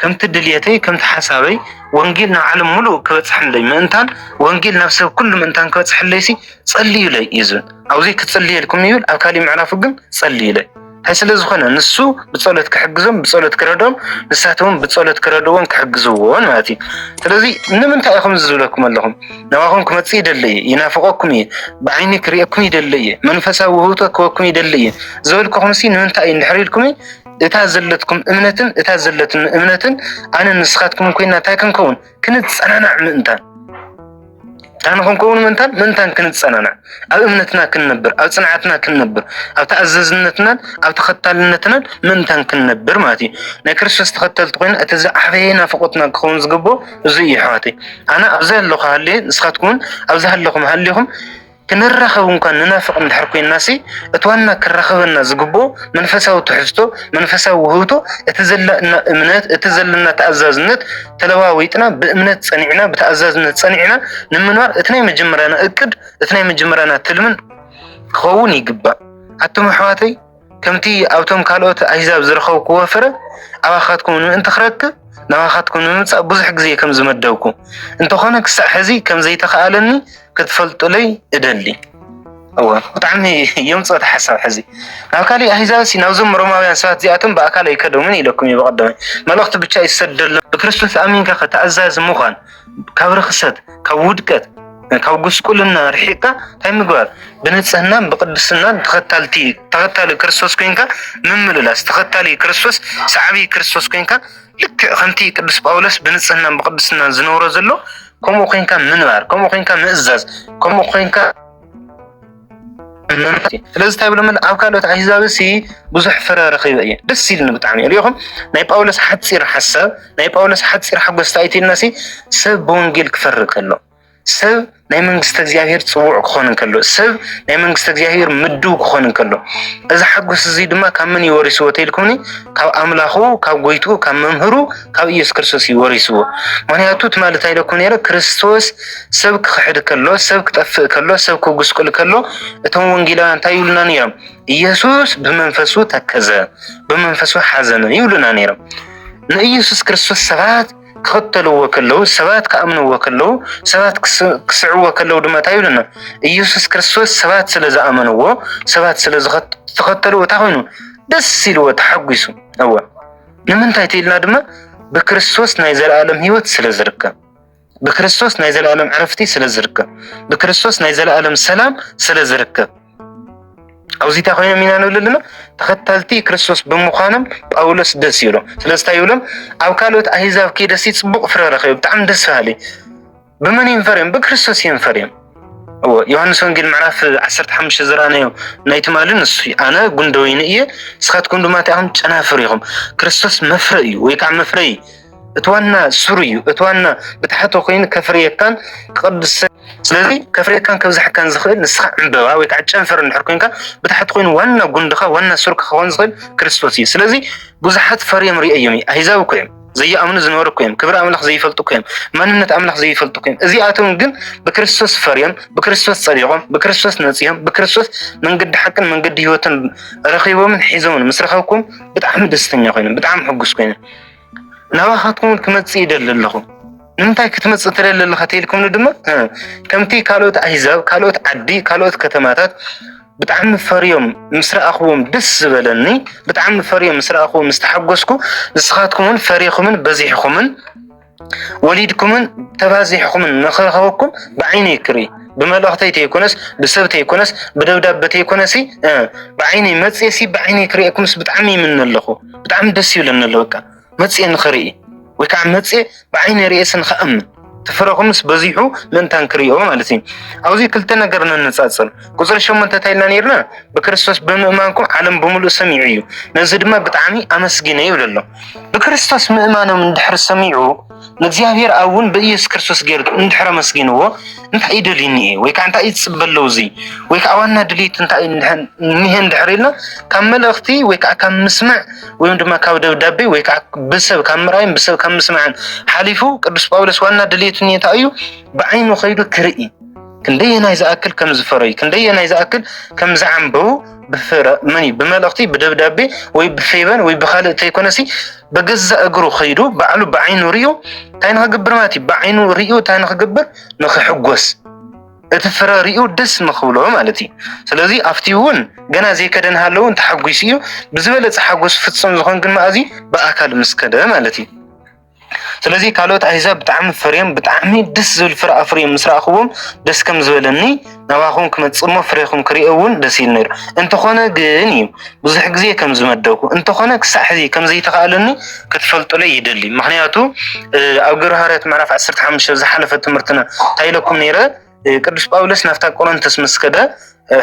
ከምቲ ድልየተይ ከምቲ ሓሳበይ ወንጌል ናብ ዓለም ሙሉእ ክበፅሐለይ ምእንታን ወንጌል ናብ ሰብ ኩሉ ምእንታን ክበፅሐለይሲ ጸልዩለይ እዩ ዝብል ኣብዚ ክጽልየልኩም ይብል ኣብ ካሊእ ምዕራፉ ግን ጸልዩለይ እንታይ ስለ ዝኾነ ንሱ ብጸሎት ክሕግዞም ብጸሎት ክረዶም ንሳተውን ብጸሎት ክረድዎን ክሕግዝዎን ማለት እዩ ስለዚ ንምንታይ ኢኹም ዝብለኩም ኣለኹም ናባኹም ክመፅእ ይደለ እየ ይናፍቀኩም እየ ብዓይኒ ክሪኤኩም ይደለ እየ መንፈሳዊ ውህብቶ ክወኩም ይደለ እየ ዝበልኩኹም ሲ ንምንታይ እዩ እንድሕር ኢልኩም እታ ዘለትኩም እምነትን እታ ዘለትን እምነትን ኣነ ንስኻትኩምን ኮይና እንታይ ክንከውን ክንፀናናዕ ምእንታን ዳን ክንከውን ምእንታን ምእንታን ክንፀናናዕ ኣብ እምነትና ክንነብር ኣብ ፅንዓትና ክንነብር ኣብ ተኣዘዝነትናን ኣብ ተኸታልነትናን ምእንታን ክንነብር ማለት እዩ ናይ ክርስቶስ ተኸተልቲ ኮይና እቲ ዝዓበየ ናፍቆትና ክኸውን ዝግብኦ እዚ እዩ ኣሕዋተይ ኣነ ኣብዚ ኣለኹ ሃልየ ንስኻትኩም እውን ኣብዚ ሃለኹም ሃሊኹም ክንራኸብ እንኳን ንናፍቕ እንድሕር ኮይናሲ እቲ ዋና ክራኸበና ዝግብኦ መንፈሳዊ ትሕዝቶ መንፈሳዊ ውህብቶ እቲ ዘለና እምነት እቲ ዘለና ተኣዛዝነት ተለዋዊጥና ብእምነት ፀኒዕና ብተኣዛዝነት ፀኒዕና ንምንባር እቲ ናይ መጀመርያና እቅድ እቲ ናይ መጀመርያና ትልምን ክኸውን ይግባእ ኣቱም ኣሕዋተይ ከምቲ ኣብቶም ካልኦት ኣህዛብ ዝረኸብክዎ ፍረ ኣባኻትኩም ንምእንቲ ክረክብ ናባኻትኩም ንምምፃእ ብዙሕ ግዜ ከም ዝመደብኩ እንተኾነ ክሳዕ ሕዚ ከም ዘይተኸኣለኒ ክትፈልጡለይ እደሊ እወ ብጣዕሚ የምፅኦት ሓሳብ ሕዚ ናብ ካሊእ ኣህዛብ ሲ ናብዞም ሮማውያን ሰባት እዚኣቶም ብኣካል ኣይከደሙን ኢለኩም እዩ በቐደመ መልእኽቲ ብቻ ይሰደሎም ብክርስቶስ ኣሚንካ ከተኣዛዝ ምዃን ካብ ርክሰት ካብ ውድቀት ካብ ጉስቁልና ርሒቅካ እንታይ ምግባር ብንፅህናን ብቅድስናን ተኸታልቲ ተኸታሊ ክርስቶስ ኮንካ ምምልላስ ተኸታሊ ክርስቶስ ሰዓቢ ክርስቶስ ኮንካ ልክዕ ከምቲ ቅዱስ ጳውሎስ ብንፅህናን ብቅድስናን ዝነብሮ ዘሎ ከምኡ ኮንካ ምንባር ከምኡ ኮንካ ምእዛዝ ከምኡ ኮንካ ስለዚ እንታይ ብሎ ኣብ ካልኦት ኣህዛብ ሲ ብዙሕ ፍረ ረኺበ እየ ደስ ኢልኒ ብጣዕሚ ሪኢኹም ናይ ጳውሎስ ሓፂር ሓሳብ ናይ ጳውሎስ ሓፂር ሓጎስ እንታይ ኢልና ሲ ሰብ ብወንጌል ክፈሪ ከሎ ሰብ ናይ መንግስቲ እግዚኣብሄር ፅውዕ ክኾን እንከሎ ሰብ ናይ መንግስቲ እግዚኣብሄር ምድው ክኾን እንከሎ እዚ ሓጎስ እዚ ድማ ካብ መን ይወሪስዎ ተልኩምኒ ካብ ኣምላኹ ካብ ጎይትኡ ካብ መምህሩ ካብ ኢየሱስ ክርስቶስ እዩ ወሪስዎ። ምክንያቱ ትማሊ እንታይ ኢለኩ ነይረ ክርስቶስ ሰብ ክኽሕድ ከሎ፣ ሰብ ክጠፍእ ከሎ፣ ሰብ ክጉስቁል ከሎ እቶም ወንጌላውያን እንታይ ይብሉና ነይሮም? ኢየሱስ ብመንፈሱ ተከዘ፣ ብመንፈሱ ሓዘነ ይብሉና ነይሮም። ንኢየሱስ ክርስቶስ ሰባት ክኽተልዎ ከለዉ፣ ሰባት ክኣምንዎ ከለዉ፣ ሰባት ክስዕዎ ከለዉ ድማ እንታይ ይብሉና? ኢየሱስ ክርስቶስ ሰባት ስለ ዝኣመንዎ፣ ሰባት ስለ ዝተኸተልዎ እንታይ ኮይኑ ደስ ኢልዎ ተሓጒሱ እወ ንምንታይ ትኢልና ድማ ብክርስቶስ ናይ ዘለኣለም ህይወት ስለ ዝርከብ ብክርስቶስ ናይ ዘለኣለም ዕረፍቲ ስለ ዝርከብ ብክርስቶስ ናይ ዘለኣለም ሰላም ስለ ዝርከብ ኣብዚ እንታይ ኮይኖም ኢና ንብል ኣለና ተኸተልቲ ክርስቶስ ብምዃኖም ጳውሎስ ደስ ይብሎም ስለዚ እንታይ ይብሎም ኣብ ካልኦት ኣህዛብ ከይደሲ ፅቡቅ ፍረ ረኸቢ ብጣዕሚ ደስ በሃሊ ብመን እዮም ፈርዮም? ብክርስቶስ እዮም ፈርዮም። እዎ ዮሃንስ ወንጌል ምዕራፍ 15 ዝራናዮ ናይ ትማሊ ንሱ ኣነ ጉንደ ወይኒ እየ ንስኻትኩም ድማ እቲኣኹም ጨናፍር ኢኹም። ክርስቶስ መፍረ እዩ ወይ ከዓ መፍረ እዩ። እቲ ዋና ሱር እዩ። እቲ ዋና ብታሕቶ ኮይኑ ከፍርየካን ክቅድስ ስለዚ ከፍርየካን ከብዛሕካን ዝኽእል ንስኻ ዕምበባ ወይ ከዓ ጨንፈር እንድሕር ኮይንካ ብታሕቲ ኮይኑ ዋና ጉንድኻ ዋና ሱርካ ክኸውን ዝኽእል ክርስቶስ እዩ። ስለዚ ብዙሓት ፈርዮም ርእዮም እዩ። ኣህዛብ እኮ እዮም ዘይኣምኑ ዝነበሩ እኮ እዮም። ክብሪ ኣምላኽ ዘይፈልጡ እኮ እዮም። መንነት ኣምላኽ ዘይፈልጡ እኮ እዮም። እዚኣቶም ግን ብክርስቶስ ፈርዮም፣ ብክርስቶስ ጸዲቖም፣ ብክርስቶስ ነጺዮም፣ ብክርስቶስ መንገዲ ሓቅን መንገዲ ህይወትን ረኺቦምን ሒዞምን ምስ ረኸብኩም ብጣዕሚ ደስተኛ ኮይኖም፣ ብጣዕሚ ሕጉስ ኮይኖም ናባኻትኩም ክመጽእ ይደሊ ኣለኹ። ንምንታይ ክትመፅእ ትደሊ ኣለኻ ተልኩምኒ ድማ ከምቲ ካልኦት ኣህዛብ ካልኦት ዓዲ ካልኦት ከተማታት ብጣዕሚ ፈርዮም ምስ ረኣኽዎም ደስ ዝበለኒ ብጣዕሚ ፈርዮም ምስ ረኣኽዎም ምስ ተሓጎስኩ ንስኻትኩም እውን ፈሪኹምን በዚሕኹምን ወሊድኩምን ተባዚሕኹምን ንኽረኸበኩም ብዓይነ ይክርኢ ብመልእኽተይ ተይኮነስ ብሰብ ተይኮነስ ብደብዳቤ ተይኮነሲ ብዓይነይ መፅየሲ ብዓይነይ ክርእየኩምስ ብጣዕሚ ይምነ ኣለኹ ብጣዕሚ ደስ ይብለኒ ኣሎ በቃ መጽየ ንኽርኢ ወይ ከዓ መጽየ ብዓይነ ርእየ ስንኸእም ትፍረኹምስ በዚሑ ምእንታን ክርእዮ ማለት እዩ። ኣብዚ ክልተ ነገር ነነጻጽር። ቁፅሪ ሸሞንተ እንታይ ኢልና ነርና? ብክርስቶስ ብምእማንኩም ዓለም ብምሉእ ሰሚዑ እዩ፣ ነዚ ድማ ብጣዕሚ ኣመስጊነ ይብል ኣሎ። ብክርስቶስ ምእማኖም እንድሕር ሰሚዑ ንእግዚኣብሔር ኣብ እውን ብኢየሱስ ክርስቶስ ገይሩ እንድሕር ኣመስጊንዎ እንታይ እዩ ደልዩኒ እየ ወይ ከዓ እንታይ እዩ ዝፅበ ኣለዉ እዚ ወይ ከዓ ዋና ድልየቱ እንታይ እዩ እኒሀ እንድሕር ኢልና ካብ መልእኽቲ ወይ ከዓ ካብ ምስምዕ ወይም ድማ ካብ ደብዳቤ ወይ ከዓ ብሰብ ካብ ምርኣይን ብሰብ ካብ ምስምዕን ሓሊፉ ቅዱስ ጳውሎስ ዋና ድልየቱ እንታይ እዩ ብዓይኑ ከይዱ ክርኢ ክንደየናይ ዝኣክል ከም ዝፈረዩ ክንደየናይ ዝኣክል ከም ዝዓምበቡ ብፍረምን ብመልእኽቲ ብደብዳቤ ወይ ብፌበን ወይ ብካልእ ተይኮነሲ በገዛ እግሩ ከይዱ ባዕሉ ብዓይኑ ሪኡ እንታይ ንክግብር ማለት እዩ ብዓይኑ ሪኡ እንታይ ንክግብር ንክሕጎስ እቲ ፍረ ሪኡ ደስ ንክብሎ ማለት እዩ ስለዚ ኣብቲ እውን ገና ዘይከደ ንሃለዉ እውን ተሓጒሱ እዩ ብዝበለፀ ሓጎስ ፍፁም ዝኾን ግን መኣዚ ብኣካል ምስ ከደ ማለት እዩ ስለዚ ካልኦት ኣህዛብ ብጣዕሚ ፈርዮም ብጣዕሚ ደስ ዝብል ፍረ ኣፍርዮም ምስ ረኣኽዎም ደስ ከም ዝበለኒ ናባኹም ክመጽእ እሞ ፍሬኹም ክርኢ እውን ደስ ኢሉ ነይሩ እንተኾነ ግን እዩ ብዙሕ ግዜ ከም ዝመደብኩ እንተኾነ ክሳዕ ሕዚ ከም ዘይተኻእለኒ ክትፈልጡለይ ይደሊ ምክንያቱ ኣብ ግብረ ሃዋርያት ምዕራፍ 15 ዝሓለፈ ትምህርትና እንታይ ኢለኩም ነይረ ቅዱስ ጳውሎስ ናብታ ቆሮንቶስ ምስ ከደ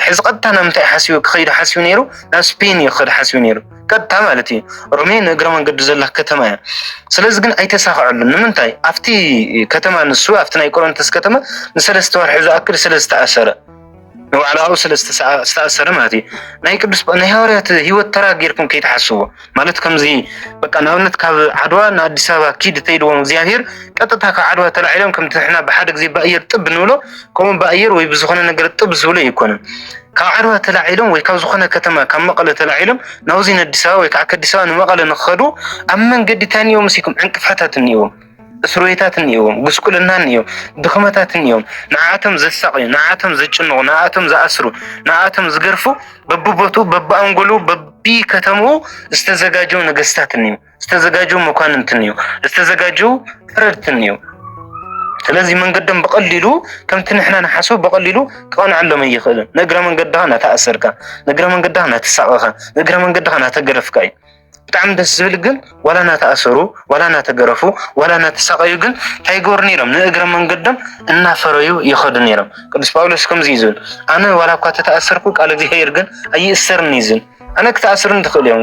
ሕዚ ቀጥታ ናብ ምንታይ ሓሲቡ ክኸይዱ ሓሲቡ ነይሩ ናብ ስፔን እዩ ክኸድ ሓሲቡ ነይሩ ቀጥታ ማለት እዩ ሮሜ ንእግረ መንገዱ ዘላ ከተማ እያ ስለዚ ግን ኣይተሳኸዐሉን ንምንታይ ኣብቲ ከተማ ንሱ ኣብቲ ናይ ቆሮንቶስ ከተማ ንሰለስተ ወርሒ ዝኣክል ስለ ዝተኣሰረ ንባዕላኡ ስለ ዝተኣሰረ ማለት እዩ ናይ ቅዱስ ናይ ሃዋርያት ህይወት ተራ ጌርኩም ከይትሓስቡ ማለት ከምዚ በቃ ንኣብነት ካብ ዓድዋ ንኣዲስ ኣበባ ኪድ ተይድዎም እግዚኣብሄር ቀጥታ ካብ ዓድዋ ተላዒሎም ከምቲ ሕና ብሓደ ግዜ ብኣየር ጥብ ንብሎ ከምኡ ብኣየር ወይ ብዝኾነ ነገር ጥብ ዝብሎ ኣይኮነን። ካብ ዓድዋ ተላዒሎም ወይ ካብ ዝኾነ ከተማ ካብ መቐለ ተላዒሎም ናብዚ ንኣዲስ ኣበባ ወይ ከዓ ከዲስ ኣበባ ንመቐለ ንክኸዱ ኣብ መንገዲ እንታይ እኒኦ መሲኩም ዕንቅፋታት እኒኦዎም። እስርቤታት እኒኦዎም፣ ጉስቁልና እኒኦ፣ ድኽመታት እኒኦም፣ ንዓኣቶም ዘሳቕዩ፣ ንዓኣቶም ዘጭንቑ፣ ንዓኣቶም ዝኣስሩ፣ ንዓኣቶም ዝገርፉ በብቦትኡ፣ በብኣንጎሉ፣ በቢከተምኡ ዝተዘጋጀው ነገስታት እኒኦ፣ ዝተዘጋጀው መኳንንት እኒኦ፣ ዝተዘጋጀው ፍረድት እኒኦ። ስለዚ መንገዶም ብቐሊሉ ከምቲ ንሕና ንሓስቡ ብቐሊሉ ክቐንዐሎም ኣይኽእልን። ንእግረ መንገድኻ ናተኣሰርካ፣ ንእግረ መንገድኻ ናተሳቐኻ፣ ንእግረ መንገድኻ ናተገረፍካ እዩ። ብጣዕሚ ደስ ዝብል ግን ዋላ እናተኣሰሩ ዋላ እናተገረፉ ዋላ እናተሳቀዩ ግን እንታይ ይገብሩ ነይሮም? ንእግረ መንገዶም እናፈረዩ ይኸዱ ነይሮም። ቅዱስ ጳውሎስ ከምዚ እዩ ዝብል፣ ኣነ ዋላ እኳ ተተኣሰርኩ ቃል እግዚኣብሔር ግን ኣይእሰርን እዩ ዝብል። ኣነ ክትኣስሩን ትኽእሉ እዮም፣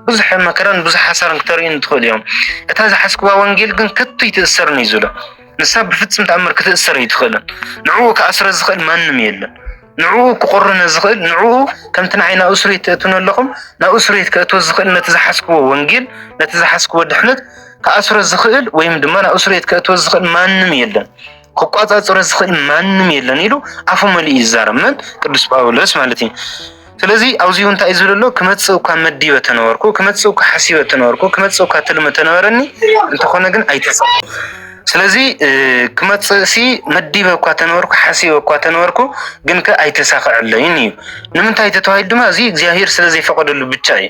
ብዙሕ መከራን ብዙሕ ሓሳርን ክተርእዩን ትኽእሉ እዮም። እታ ዝሓስክዋ ወንጌል ግን ከቶ ይትእሰርን እዩ ዝብሎ። ንሳ ብፍጽም ተኣምር ክትእሰር ኣይትኽእልን። ንዕኡ ክኣስረ ዝኽእል ማንም የለን። ንዕኡ ክቑርነ ዝኽእል ንዕኡ ከምቲ ንዓይ ናብ እስርቤት ትእትውኒ ኣለኹም ናብ እስርቤት ከእትዎ ዝኽእል ነቲ ዝሓዝክዎ ወንጌል ነቲ ዝሓዝክዎ ድሕነት ክኣስሮ ዝኽእል ወይም ድማ ናብ እስርቤት ከእትዎ ዝኽእል ማንም የለን ክቋፃፅሮ ዝኽእል ማንም የለን ኢሉ ኣፉ መሊኡ ይዛረብ መን ቅዱስ ጳውሎስ ማለት እዩ ስለዚ ኣብዚ እውን እንታይ ዝብል ኣሎ ክመፅእ እኳ መዲበ ተነበርኩ ክመፅእ እኳ ሓሲበ ተነበርኩ ክመፅእ እኳ ትልሚ ተነበረኒ እንተኾነ ግን ኣይተሰ ስለዚ ክመፅእ ሲ መዲበ እኳ ተነበርኩ ሓሲበ እኳ ተነበርኩ ግን ከ ኣይተሳክዐለይን እዩ ንምንታይ ተተባሂሉ ድማ እዚ እግዚኣብሄር ስለ ዘይፈቀደሉ ብቻ እዩ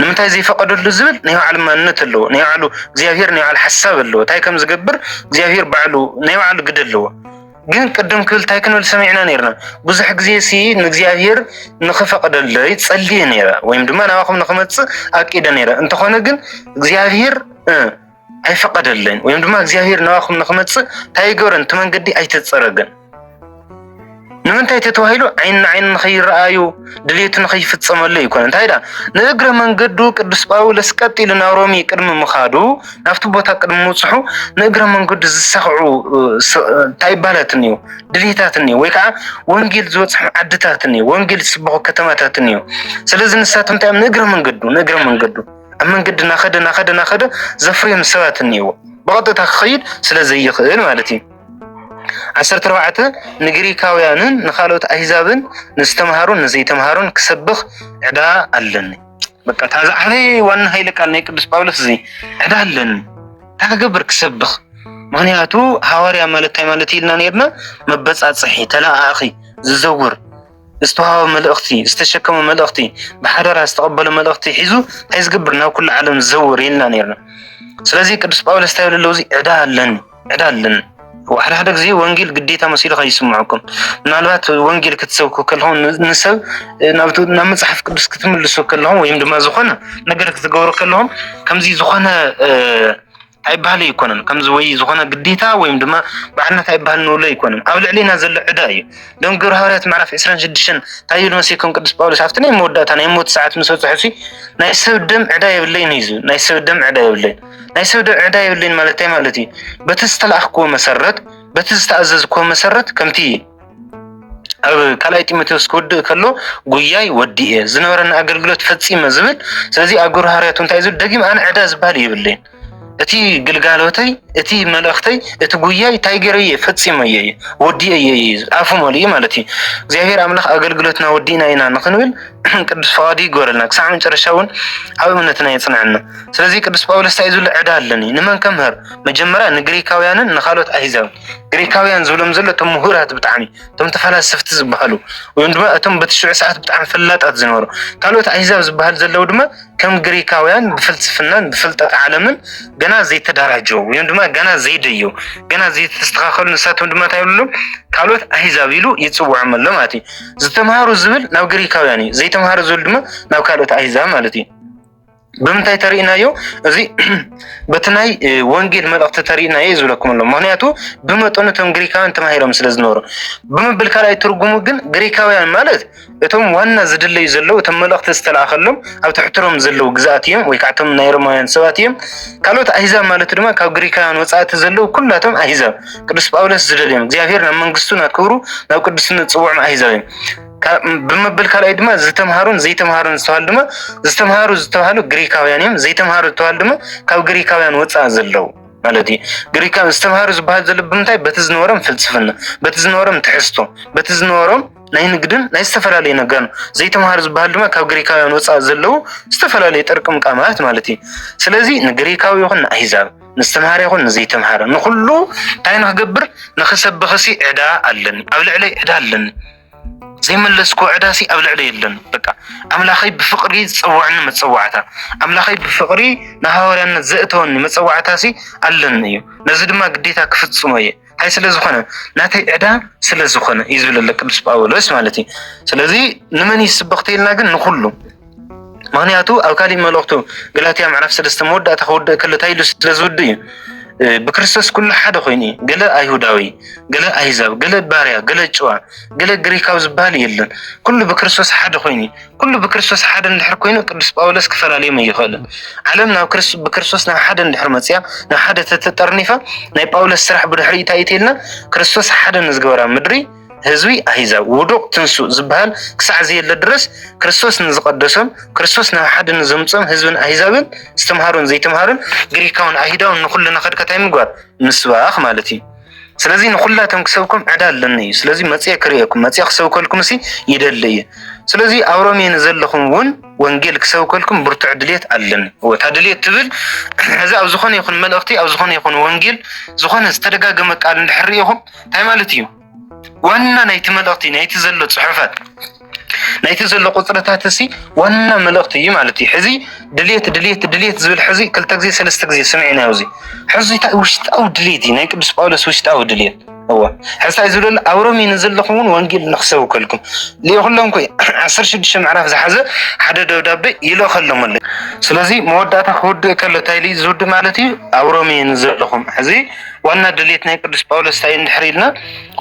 ንምንታይ ዘይፈቀደሉ ዝብል ናይ ባዕሉ ማንነት ኣለዎ ናይ ባዕሉ እግዚኣብሄር ናይ ባዕሉ ሓሳብ ኣለዎ እንታይ ከም ዝገብር እግዚኣብሄር ባዕሉ ናይ ባዕሉ ግደ ኣለዎ ግን ቅድም ክብል እንታይ ክንብል ሰሚዕና ነርና ብዙሕ ግዜ ሲ ንእግዚኣብሄር ንክፈቅደለይ ጸልየ ነረ ወይም ድማ ናባኹም ንክመፅእ ኣቂደ ነረ እንተኾነ ግን እግዚኣብሄር ኣይፈቀደለይን ወይም ድማ እግዚኣብሔር ናባኹም ንክመፅእ እንታይ ኣይገበረን እቲ መንገዲ ኣይተፀረገን ንምንታይ እቲ ተባሂሉ ዓይን ንዓይን ንኸይረኣዩ ድሌቱ ንኸይፍፀመሉ ይኮነ እንታይ ዳ ንእግረ መንገዱ ቅዱስ ጳውሎስ ቀጥ ኢሉ ናብ ሮሜ ቅድሚ ምኻዱ ናብቲ ቦታ ቅድሚ ምብፅሑ ንእግረ መንገዱ ዝሳኽዑ እንታይ ይባላት እኒው ድሌታት እኒው ወይ ከዓ ወንጌል ዝበፅሑ ዓድታት እኒው ወንጌል ዝስበኹ ከተማታት እኒው ስለዚ ንሳቶም እንታይ እዮም ንእግረ መንገዱ ንእግረ መንገዱ ኣብ መንገዲ ናኸደ ናኸደ ናኸደ ዘፍርዮም ሰባት እኒአዎ ብቐጥታ ክኸይድ ስለ ዘይኽእል ማለት እዩ። ዓሰርተ ኣርባዕተ ንግሪካውያንን ንካልኦት ኣህዛብን ንዝተምሃሩን ንዘይተምሃሩን ክሰብኽ ዕዳ ኣለኒ። በቃ እታ ዝዓበየ ዋና ሃይለ ቃል ናይ ቅዱስ ጳውሎስ እዚ ዕዳ ኣለኒ እንታይ ክገብር ክሰብኽ። ምክንያቱ ሃዋርያ ማለት እንታይ ማለት ኢልና ነርና መበጻጽሒ ተለኣኣኺ ዝዘውር ዝተዋህቦ መልእኽቲ ዝተሸከሞ መልእኽቲ ብሓደራ ዝተቐበሎ መልእኽቲ ሒዙ እንታይ ዝገብር ናብ ኩሉ ዓለም ዝዘውር ኢልና ነርና። ስለዚ ቅዱስ ጳውሎስ እንታይ ብለለዉ እዚ ዕዳ ኣለኒ ዕዳ ኣለኒ ሓደ ሓደ ግዜ ወንጌል ግዴታ መሲሉ ከይስምዐኩም ምናልባት ወንጌል ክትሰብኩ ከለኹም ንሰብ ናብ መፅሓፍ ቅዱስ ክትምልሱ ከለኹም ወይም ድማ ዝኾነ ነገር ክትገብሩ ከለኹም ከምዚ ዝኾነ ኣይባህል ኣይኮነን ከምዚ ወይ ዝኾነ ግዴታ ወይም ድማ ባዕልነት ኣይባህል ንብሎ ኣይኮነን ኣብ ልዕሊና ዘሎ ዕዳ እዩ ደም ግብረ ሃዋርያት ምዕራፍ 26 እንታይ ይብል መሲኩም ቅዱስ ጳውሎስ ኣብቲ ናይ መወዳእታ ናይ ሞት ሰዓት ምስ በፅሑ ሲ ናይ ሰብ ደም ዕዳ የብለይን እዩ ዝብል ናይ ሰብ ደም ዕዳ የብለይን ናይ ሰብ ደም ዕዳ የብለይን ማለት እንታይ ማለት እዩ በቲ ዝተላኣኽክዎ መሰረት በቲ ዝተኣዘዝክዎ መሰረት ከምቲ ኣብ ካልኣይ ጢሞቴዎስ ክወድእ ከሎ ጉያይ ወዲእ እየ ዝነበረና ኣገልግሎት ፈፂመ ዝብል ስለዚ ኣብ ግብረ ሃርያቱ እንታይ ዝብል ደጊም ኣነ ዕዳ ዝበሃል የብለይን እቲ ግልጋሎተይ እቲ መልእኽተይ እቲ ጉያይ እንታይ ገረየ ፈፂመየ እየ ወዲእ እየ ኣፉ መሊኡ ማለት እዩ እግዚኣብሔር ኣምላኽ ኣገልግሎትና ወዲእና ኢና ንክንብል ቅዱስ ፈቃዱ ይግበረልና ክሳዕ መጨረሻ እውን ኣብ እምነትና የፅንዐና ስለዚ ቅዱስ ጳውሎስ እንታይ ዝብል ዕዳ ኣለኒ ንመን ከምህር መጀመሪያ ንግሪካውያንን ንካልኦት ኣሂዛብ ግሪካውያን ዝብሎም ዘሎ እቶም ምሁራት ብጣዕሚ እቶም ተፈላሰፍቲ ዝበሃሉ ወይም ድማ እቶም በቲ ሽዑ ሰዓት ብጣዕሚ ፈላጣት ዝነበሩ ካልኦት ኣህዛብ ዝበሃል ዘለዉ ድማ ከም ግሪካውያን ብፍልስፍናን ብፍልጠት ዓለምን ገና ዘይተደራጀው ወይም ድማ ገና ዘይደየው ገና ዘይተስተኻኸሉ ንሳቶም ድማ እንታይ ይብሉ ካልኦት ኣህዛብ ኢሉ ይፅውዖም ኣሎ ማለት እዩ። ዝተምሃሩ ዝብል ናብ ግሪካውያን እዩ፣ ዘይተምሃሩ ዝብል ድማ ናብ ካልኦት ኣህዛብ ማለት እዩ። ብምንታይ ተርእናዮ እዚ በቲ ናይ ወንጌል መልእኽቲ ተርእናዮ እዩ ዝብለኩም ኣሎ ምክንያቱ ብመጠኑ እቶም ግሪካውያን ተማሂሮም ስለ ዝነበሩ ብምብል ካልኣይ ትርጉሙ ግን ግሪካውያን ማለት እቶም ዋና ዝድለዩ ዘለዉ እቶም መልእኽቲ ዝተላእኸሎም ኣብ ትሕትሮም ዘለዉ ግዛኣት እዮም ወይ ካዕቶም ናይ ሮማውያን ሰባት እዮም ካልኦት ኣሂዛብ ማለት ድማ ካብ ግሪካውያን ወፃእቲ ዘለዉ ኩላቶም ኣሂዛብ ቅዱስ ጳውሎስ ዝደልዮም እግዚኣብሔር ናብ መንግስቱ ናብ ክብሩ ናብ ቅዱስነት ፅውዖም ኣሂዛብ እዮም ብምብል ካልኣይ ድማ ዝተምሃሩን ዘይተምሃሩን ዝተባሃሉ ድማ ዝተምሃሩ ዝተባሃሉ ግሪካውያን እዮም ዘይተምሃሩ ዝተባሃሉ ድማ ካብ ግሪካውያን ወፃእ ዘለዉ ማለት እዩ ግሪካ ዝተምሃሩ ዝበሃል ዘሎ ብምንታይ በቲ ዝነበሮም ፍልስፍና በቲ ዝነበሮም ትሕዝቶ በቲ ዝነበሮም ናይ ንግድን ናይ ዝተፈላለዩ ነገር ዘይተምሃሩ ዝበሃል ድማ ካብ ግሪካውያን ወፃእ ዘለዉ ዝተፈላለዩ ጥርቅም ቃማት ማለት እዩ ስለዚ ንግሪካዊ ይኹን ንኣሂዛብ ንዝተምሃረ ይኹን ንዘይተምሃረ ንኩሉ እንታይ ንክገብር ንክሰብኽሲ ዕዳ ኣለኒ ኣብ ልዕለይ ዕዳ ኣለኒ ዘይመለስክዎ ዕዳሲ ኣብ ልዕለ የለን በቃ ኣምላኸይ ብፍቕሪ ዝፀዋዕኒ መፀዋዕታ ኣምላኸይ ብፍቕሪ ንሃዋርያነት ዘእተወኒ መፀዋዕታሲ ኣለኒ እዩ ነዚ ድማ ግዴታ ክፍፅሞ እየ እንታይ ስለ ዝኾነ ናተይ ዕዳ ስለ ዝኾነ እዩ ዝብለለ ቅዱስ ጳውሎስ ማለት እዩ ስለዚ ንመን እዩ ስብኽቲ ኢልና ግን ንኹሉ ምክንያቱ ኣብ ካሊእ መልእኽቱ ገላትያ ምዕራፍ ሰለስተ መወዳእታ ክውድእ ከሎ እንታይ ኢሉ ስለ ዝውድእ እዩ ብክርስቶስ ኩሉ ሓደ ኮይኑ እዩ። ገለ ኣይሁዳዊ፣ ገለ ኣህዛብ፣ ገለ ባርያ፣ ገለ ጭዋ፣ ገለ ግሪካዊ ዝበሃል የለን። ኩሉ ብክርስቶስ ሓደ ኮይኑ እዩ። ኩሉ ብክርስቶስ ሓደ እንድሕር ኮይኑ ቅዱስ ጳውሎስ ክፈላለዮም ኣይኽእልን። ዓለም ናብ ብክርስቶስ ናብ ሓደ እንድሕር መፅያ ናብ ሓደ ተተጠርኒፋ ናይ ጳውሎስ ስራሕ ብድሕሪ እንታይ እዩ ተይልና ክርስቶስ ሓደ ንዝገበራ ምድሪ ህዝቢ ኣህዛብ ውዱቕ ትንሱእ ዝበሃል ክሳዕ ዘየለ ድረስ ክርስቶስ ንዝቐደሶም ክርስቶስ ናብ ሓደ ንዘምፅኦም ህዝብን ኣህዛብን ዝተምሃሩን ዘይተምሃሩን ግሪካውን ኣይሁዳውን ንኹሉ ነኸድካ እንታይ ምግባር ምስባኽ ማለት እዩ። ስለዚ ንኹላቶም ክሰብኩም ዕዳ ኣለኒ እዩ። ስለዚ መፅየ ክርእየኩም መፅየ ክሰብከልኩም ሲ ይደሊ እዩ። ስለዚ ኣብ ሮሜ ንዘለኹም እውን ወንጌል ክሰብከልኩም ብርቱዕ ድሌት ኣለኒ። እወ እታ ድሌት ትብል እዚ ኣብ ዝኾነ ይኹን መልእኽቲ ኣብ ዝኾነ ይኹን ወንጌል ዝኾነ ዝተደጋገመ ቃል እንድሕር ርኢኹም እንታይ ማለት እዩ? ዋና ናይቲ መልእኽቲ ናይቲ ዘሎ ፅሑፈት ናይቲ ዘሎ ቁፅርታት እሲ ዋና መልእኽቲ እዩ ማለት እዩ። ሕዚ ድሌት ድሌት ድሌት ዝብል ሕዚ ክልተ ግዜ ሰለስተ ግዜ ስሚዕናዮ እዚ ሕዚ እንታይ ውሽጣዊ ድሌት እዩ ናይ ቅዱስ ጳውሎስ ውሽጣዊ ድሌት እወ ሕሳይ ዝብለሉ ኣብ ሮሜ ንዘለኹም እውን ወንጌል ንክሰብከልኩም ልኢኹሎም ኮይ ዓሰርተ ሽዱሽተ ምዕራፍ ዝሓዘ ሓደ ደብዳቤ ይልእኸሎም ኣሎ። ስለዚ መወዳእታ ክውድእ ከሎ እንታይ ዝውድእ ማለት እዩ ኣብ ሮሜ ንዘለኹም ሕዚ ዋና ድሌት ናይ ቅዱስ ጳውሎስ እንታይ እንድሕር ኢልና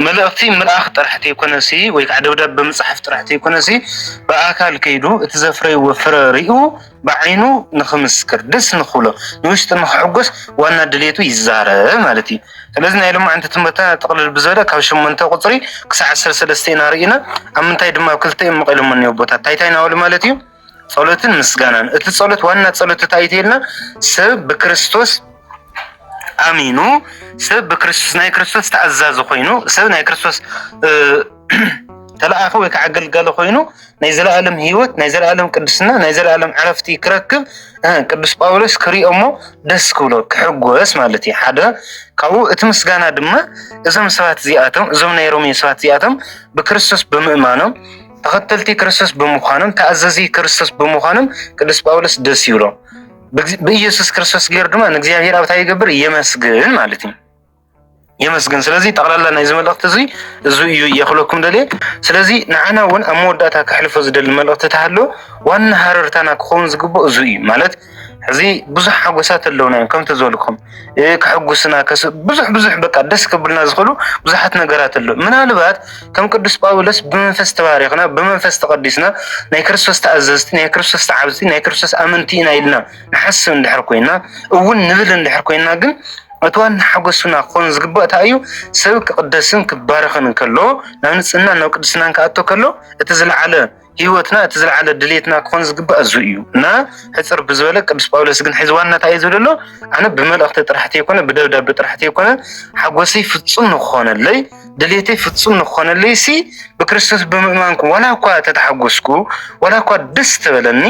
መልእኽቲ ምልኣኽ ጥራሕ ተይኮነሲ ወይ ከዓ ደብዳብ ብምፅሓፍ ጥራሕ ተይኮነሲ ብኣካል ከይዱ እቲ ዘፍረይዎ ፍረ ሪኡ ብዓይኑ ንክምስክር ደስ ንክብሎ ንውሽጢ ንክሕጎስ ዋና ድሌቱ ይዛረ ማለት እዩ። ስለዚ ናይ ሎማዕንቲ ትምህርትና ጥቕልል ብዝበለ ካብ ሸሞንተ ቁፅሪ ክሳዕ ዓሰርተ ሰለስተ ኢና ሪኢና ኣብ ምንታይ ድማ ኣብ ክልተ እዮም መቒሎሞ እኒኦ ኣቦታት ታይታይ ናበሉ ማለት እዩ። ጸሎትን ምስጋናን እቲ ጸሎት ዋና ጸሎት እንታይ እዩ ተይልና ሰብ ብክርስቶስ ኣሚኑ ሰብ ብክርስቶስ ናይ ክርስቶስ ተኣዛዚ ኮይኑ ሰብ ናይ ክርስቶስ ተለኣኸ ወይ ከዓ ኣገልጋሊ ኮይኑ ናይ ዘለኣለም ህይወት ናይ ዘለኣለም ቅድስና ናይ ዘለኣለም ዕረፍቲ ክረክብ ቅዱስ ጳውሎስ ክሪኦ እሞ ደስ ክብሎ ክሕጎስ ማለት እዩ ሓደ ካብኡ እቲ ምስጋና ድማ እዞም ሰባት እዚኣቶም እዞም ናይ ሮሜ ሰባት እዚኣቶም ብክርስቶስ ብምእማኖም ተኸተልቲ ክርስቶስ ብምዃኖም ተኣዘዚ ክርስቶስ ብምዃኖም ቅዱስ ጳውሎስ ደስ ይብሎ ብኢየሱስ ክርስቶስ ገይሩ ድማ ንእግዚኣብሔር ኣብታ ይገብር የመስግን ማለት እዩ የመስግን ስለዚ ጠቕላላ ናይዚ መልእኽቲ እዚ እዚ እዩ የኽለኩም ደልየ ስለዚ ንዓና እውን ኣብ መወዳእታ ከሕልፎ ዝደሊ መልእኽቲ ተሃሎ ዋና ሃረርታና ክኸውን ዝግብኦ እዚ እዩ ማለት ሕዚ ብዙሕ ሓጎሳት ኣለውና እዮም ከምቲ ዝበልኩም ከሕጉስና ብዙሕ ብዙሕ በቃ ደስ ከብልና ዝኽእሉ ብዙሓት ነገራት ኣለዉ ምናልባት ከም ቅዱስ ጳውሎስ ብመንፈስ ተባሪኽና ብመንፈስ ተቐዲስና ናይ ክርስቶስ ተኣዘዝቲ ናይ ክርስቶስ ተዓብዝቲ ናይ ክርስቶስ ኣመንቲ ኢና ኢልና ንሓስብ እንድሕር ኮይና እውን ንብል እንድሕር ኮይና ግን እቲ ዋና ሓጎሱና ክኾን ዝግባእ እንታይ እዩ ሰብ ክቕደስን ክባረኽን ከሎ ናብ ንጽህና ናብ ቅድስናን ክኣቶ ከሎ እቲ ዝለዓለ ህይወትና እቲ ዝለዓለ ድሌትና ክኾን ዝግባእ እዙ እዩ እና ሕፅር ብዝበለ ቅዱስ ጳውሎስ ግን ሕዚ ዋና እንታይ እዩ ዝብል ኣሎ ኣነ ብመልእኽቲ ጥራሕቲ የኮነ ብደብዳቤ ጥራሕቲ የኮነ ሓጎሰይ ፍፁም ንክኾነለይ ድሌተይ ፍፁም ንክኾነለይ ሲ ብክርስቶስ ብምእማንኩ ዋላ እኳ ተተሓጎስኩ ዋላ እኳ ደስ ተበለኒ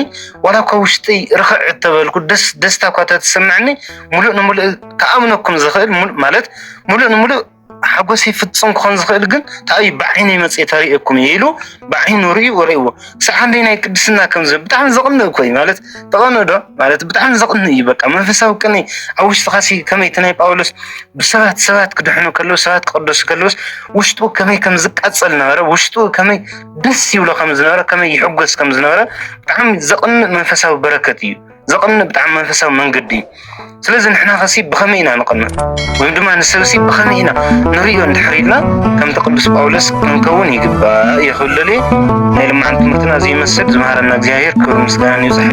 ዋላ እኳ ውሽጠይ ርኽዕ እተበልኩ ደስታ እኳ ተተሰምዐኒ ሙሉእ ንሙሉእ ክኣምነኩም ዝኽእል ማለት ሙሉእ ንሙሉእ ሓጎሰይ ፍጹም ክኾን ዝኽእል ግን ታዩ ብዓይነይ መጽየ ተርእየኩም እዩ ኢሉ ብዓይኑ ርእዩ ወርእዎ ክሳዕ ክንደይ ናይ ቅድስና ከምዚ ብጣዕሚ ዘቕንእ እኮ እዩ ማለት ተቐንእ ዶ ማለት ብጣዕሚ ዘቕንእ እዩ በቃ መንፈሳዊ ቅኒ ኣብ ውሽጥኻ ሲ ከመይ እቲ ናይ ጳውሎስ ብሰባት ሰባት ክድሕኑ ከለዉ ሰባት ክቕደሱ ከለውስ ውሽጡ ከመይ ከም ዝቃጸል ነበረ ውሽጡ ከመይ ደስ ይብሎ ከም ዝነበረ ከመይ ይሕጎስ ከም ዝነበረ ብጣዕሚ ዘቕንእ መንፈሳዊ በረከት እዩ ዘቕንእ ብጣዕሚ መንፈሳዊ መንገዲ እዩ። ስለዚ ንሕና ኸሲ ብኸመይ ኢና ንቕንእ ወይም ድማ ንሰብሲ ብኸመይ ኢና ንርእዮ እንድሕር ኢልና ከምቲ ቅዱስ ጳውሎስ ክንከውን ይግባእ ይኽብለሉ ናይ ልማዓንቲ ትምህርትና ዘይመስል ዝመሃረና እግዚኣብሔር ክብሪ ምስጋናን ይብዛሕ።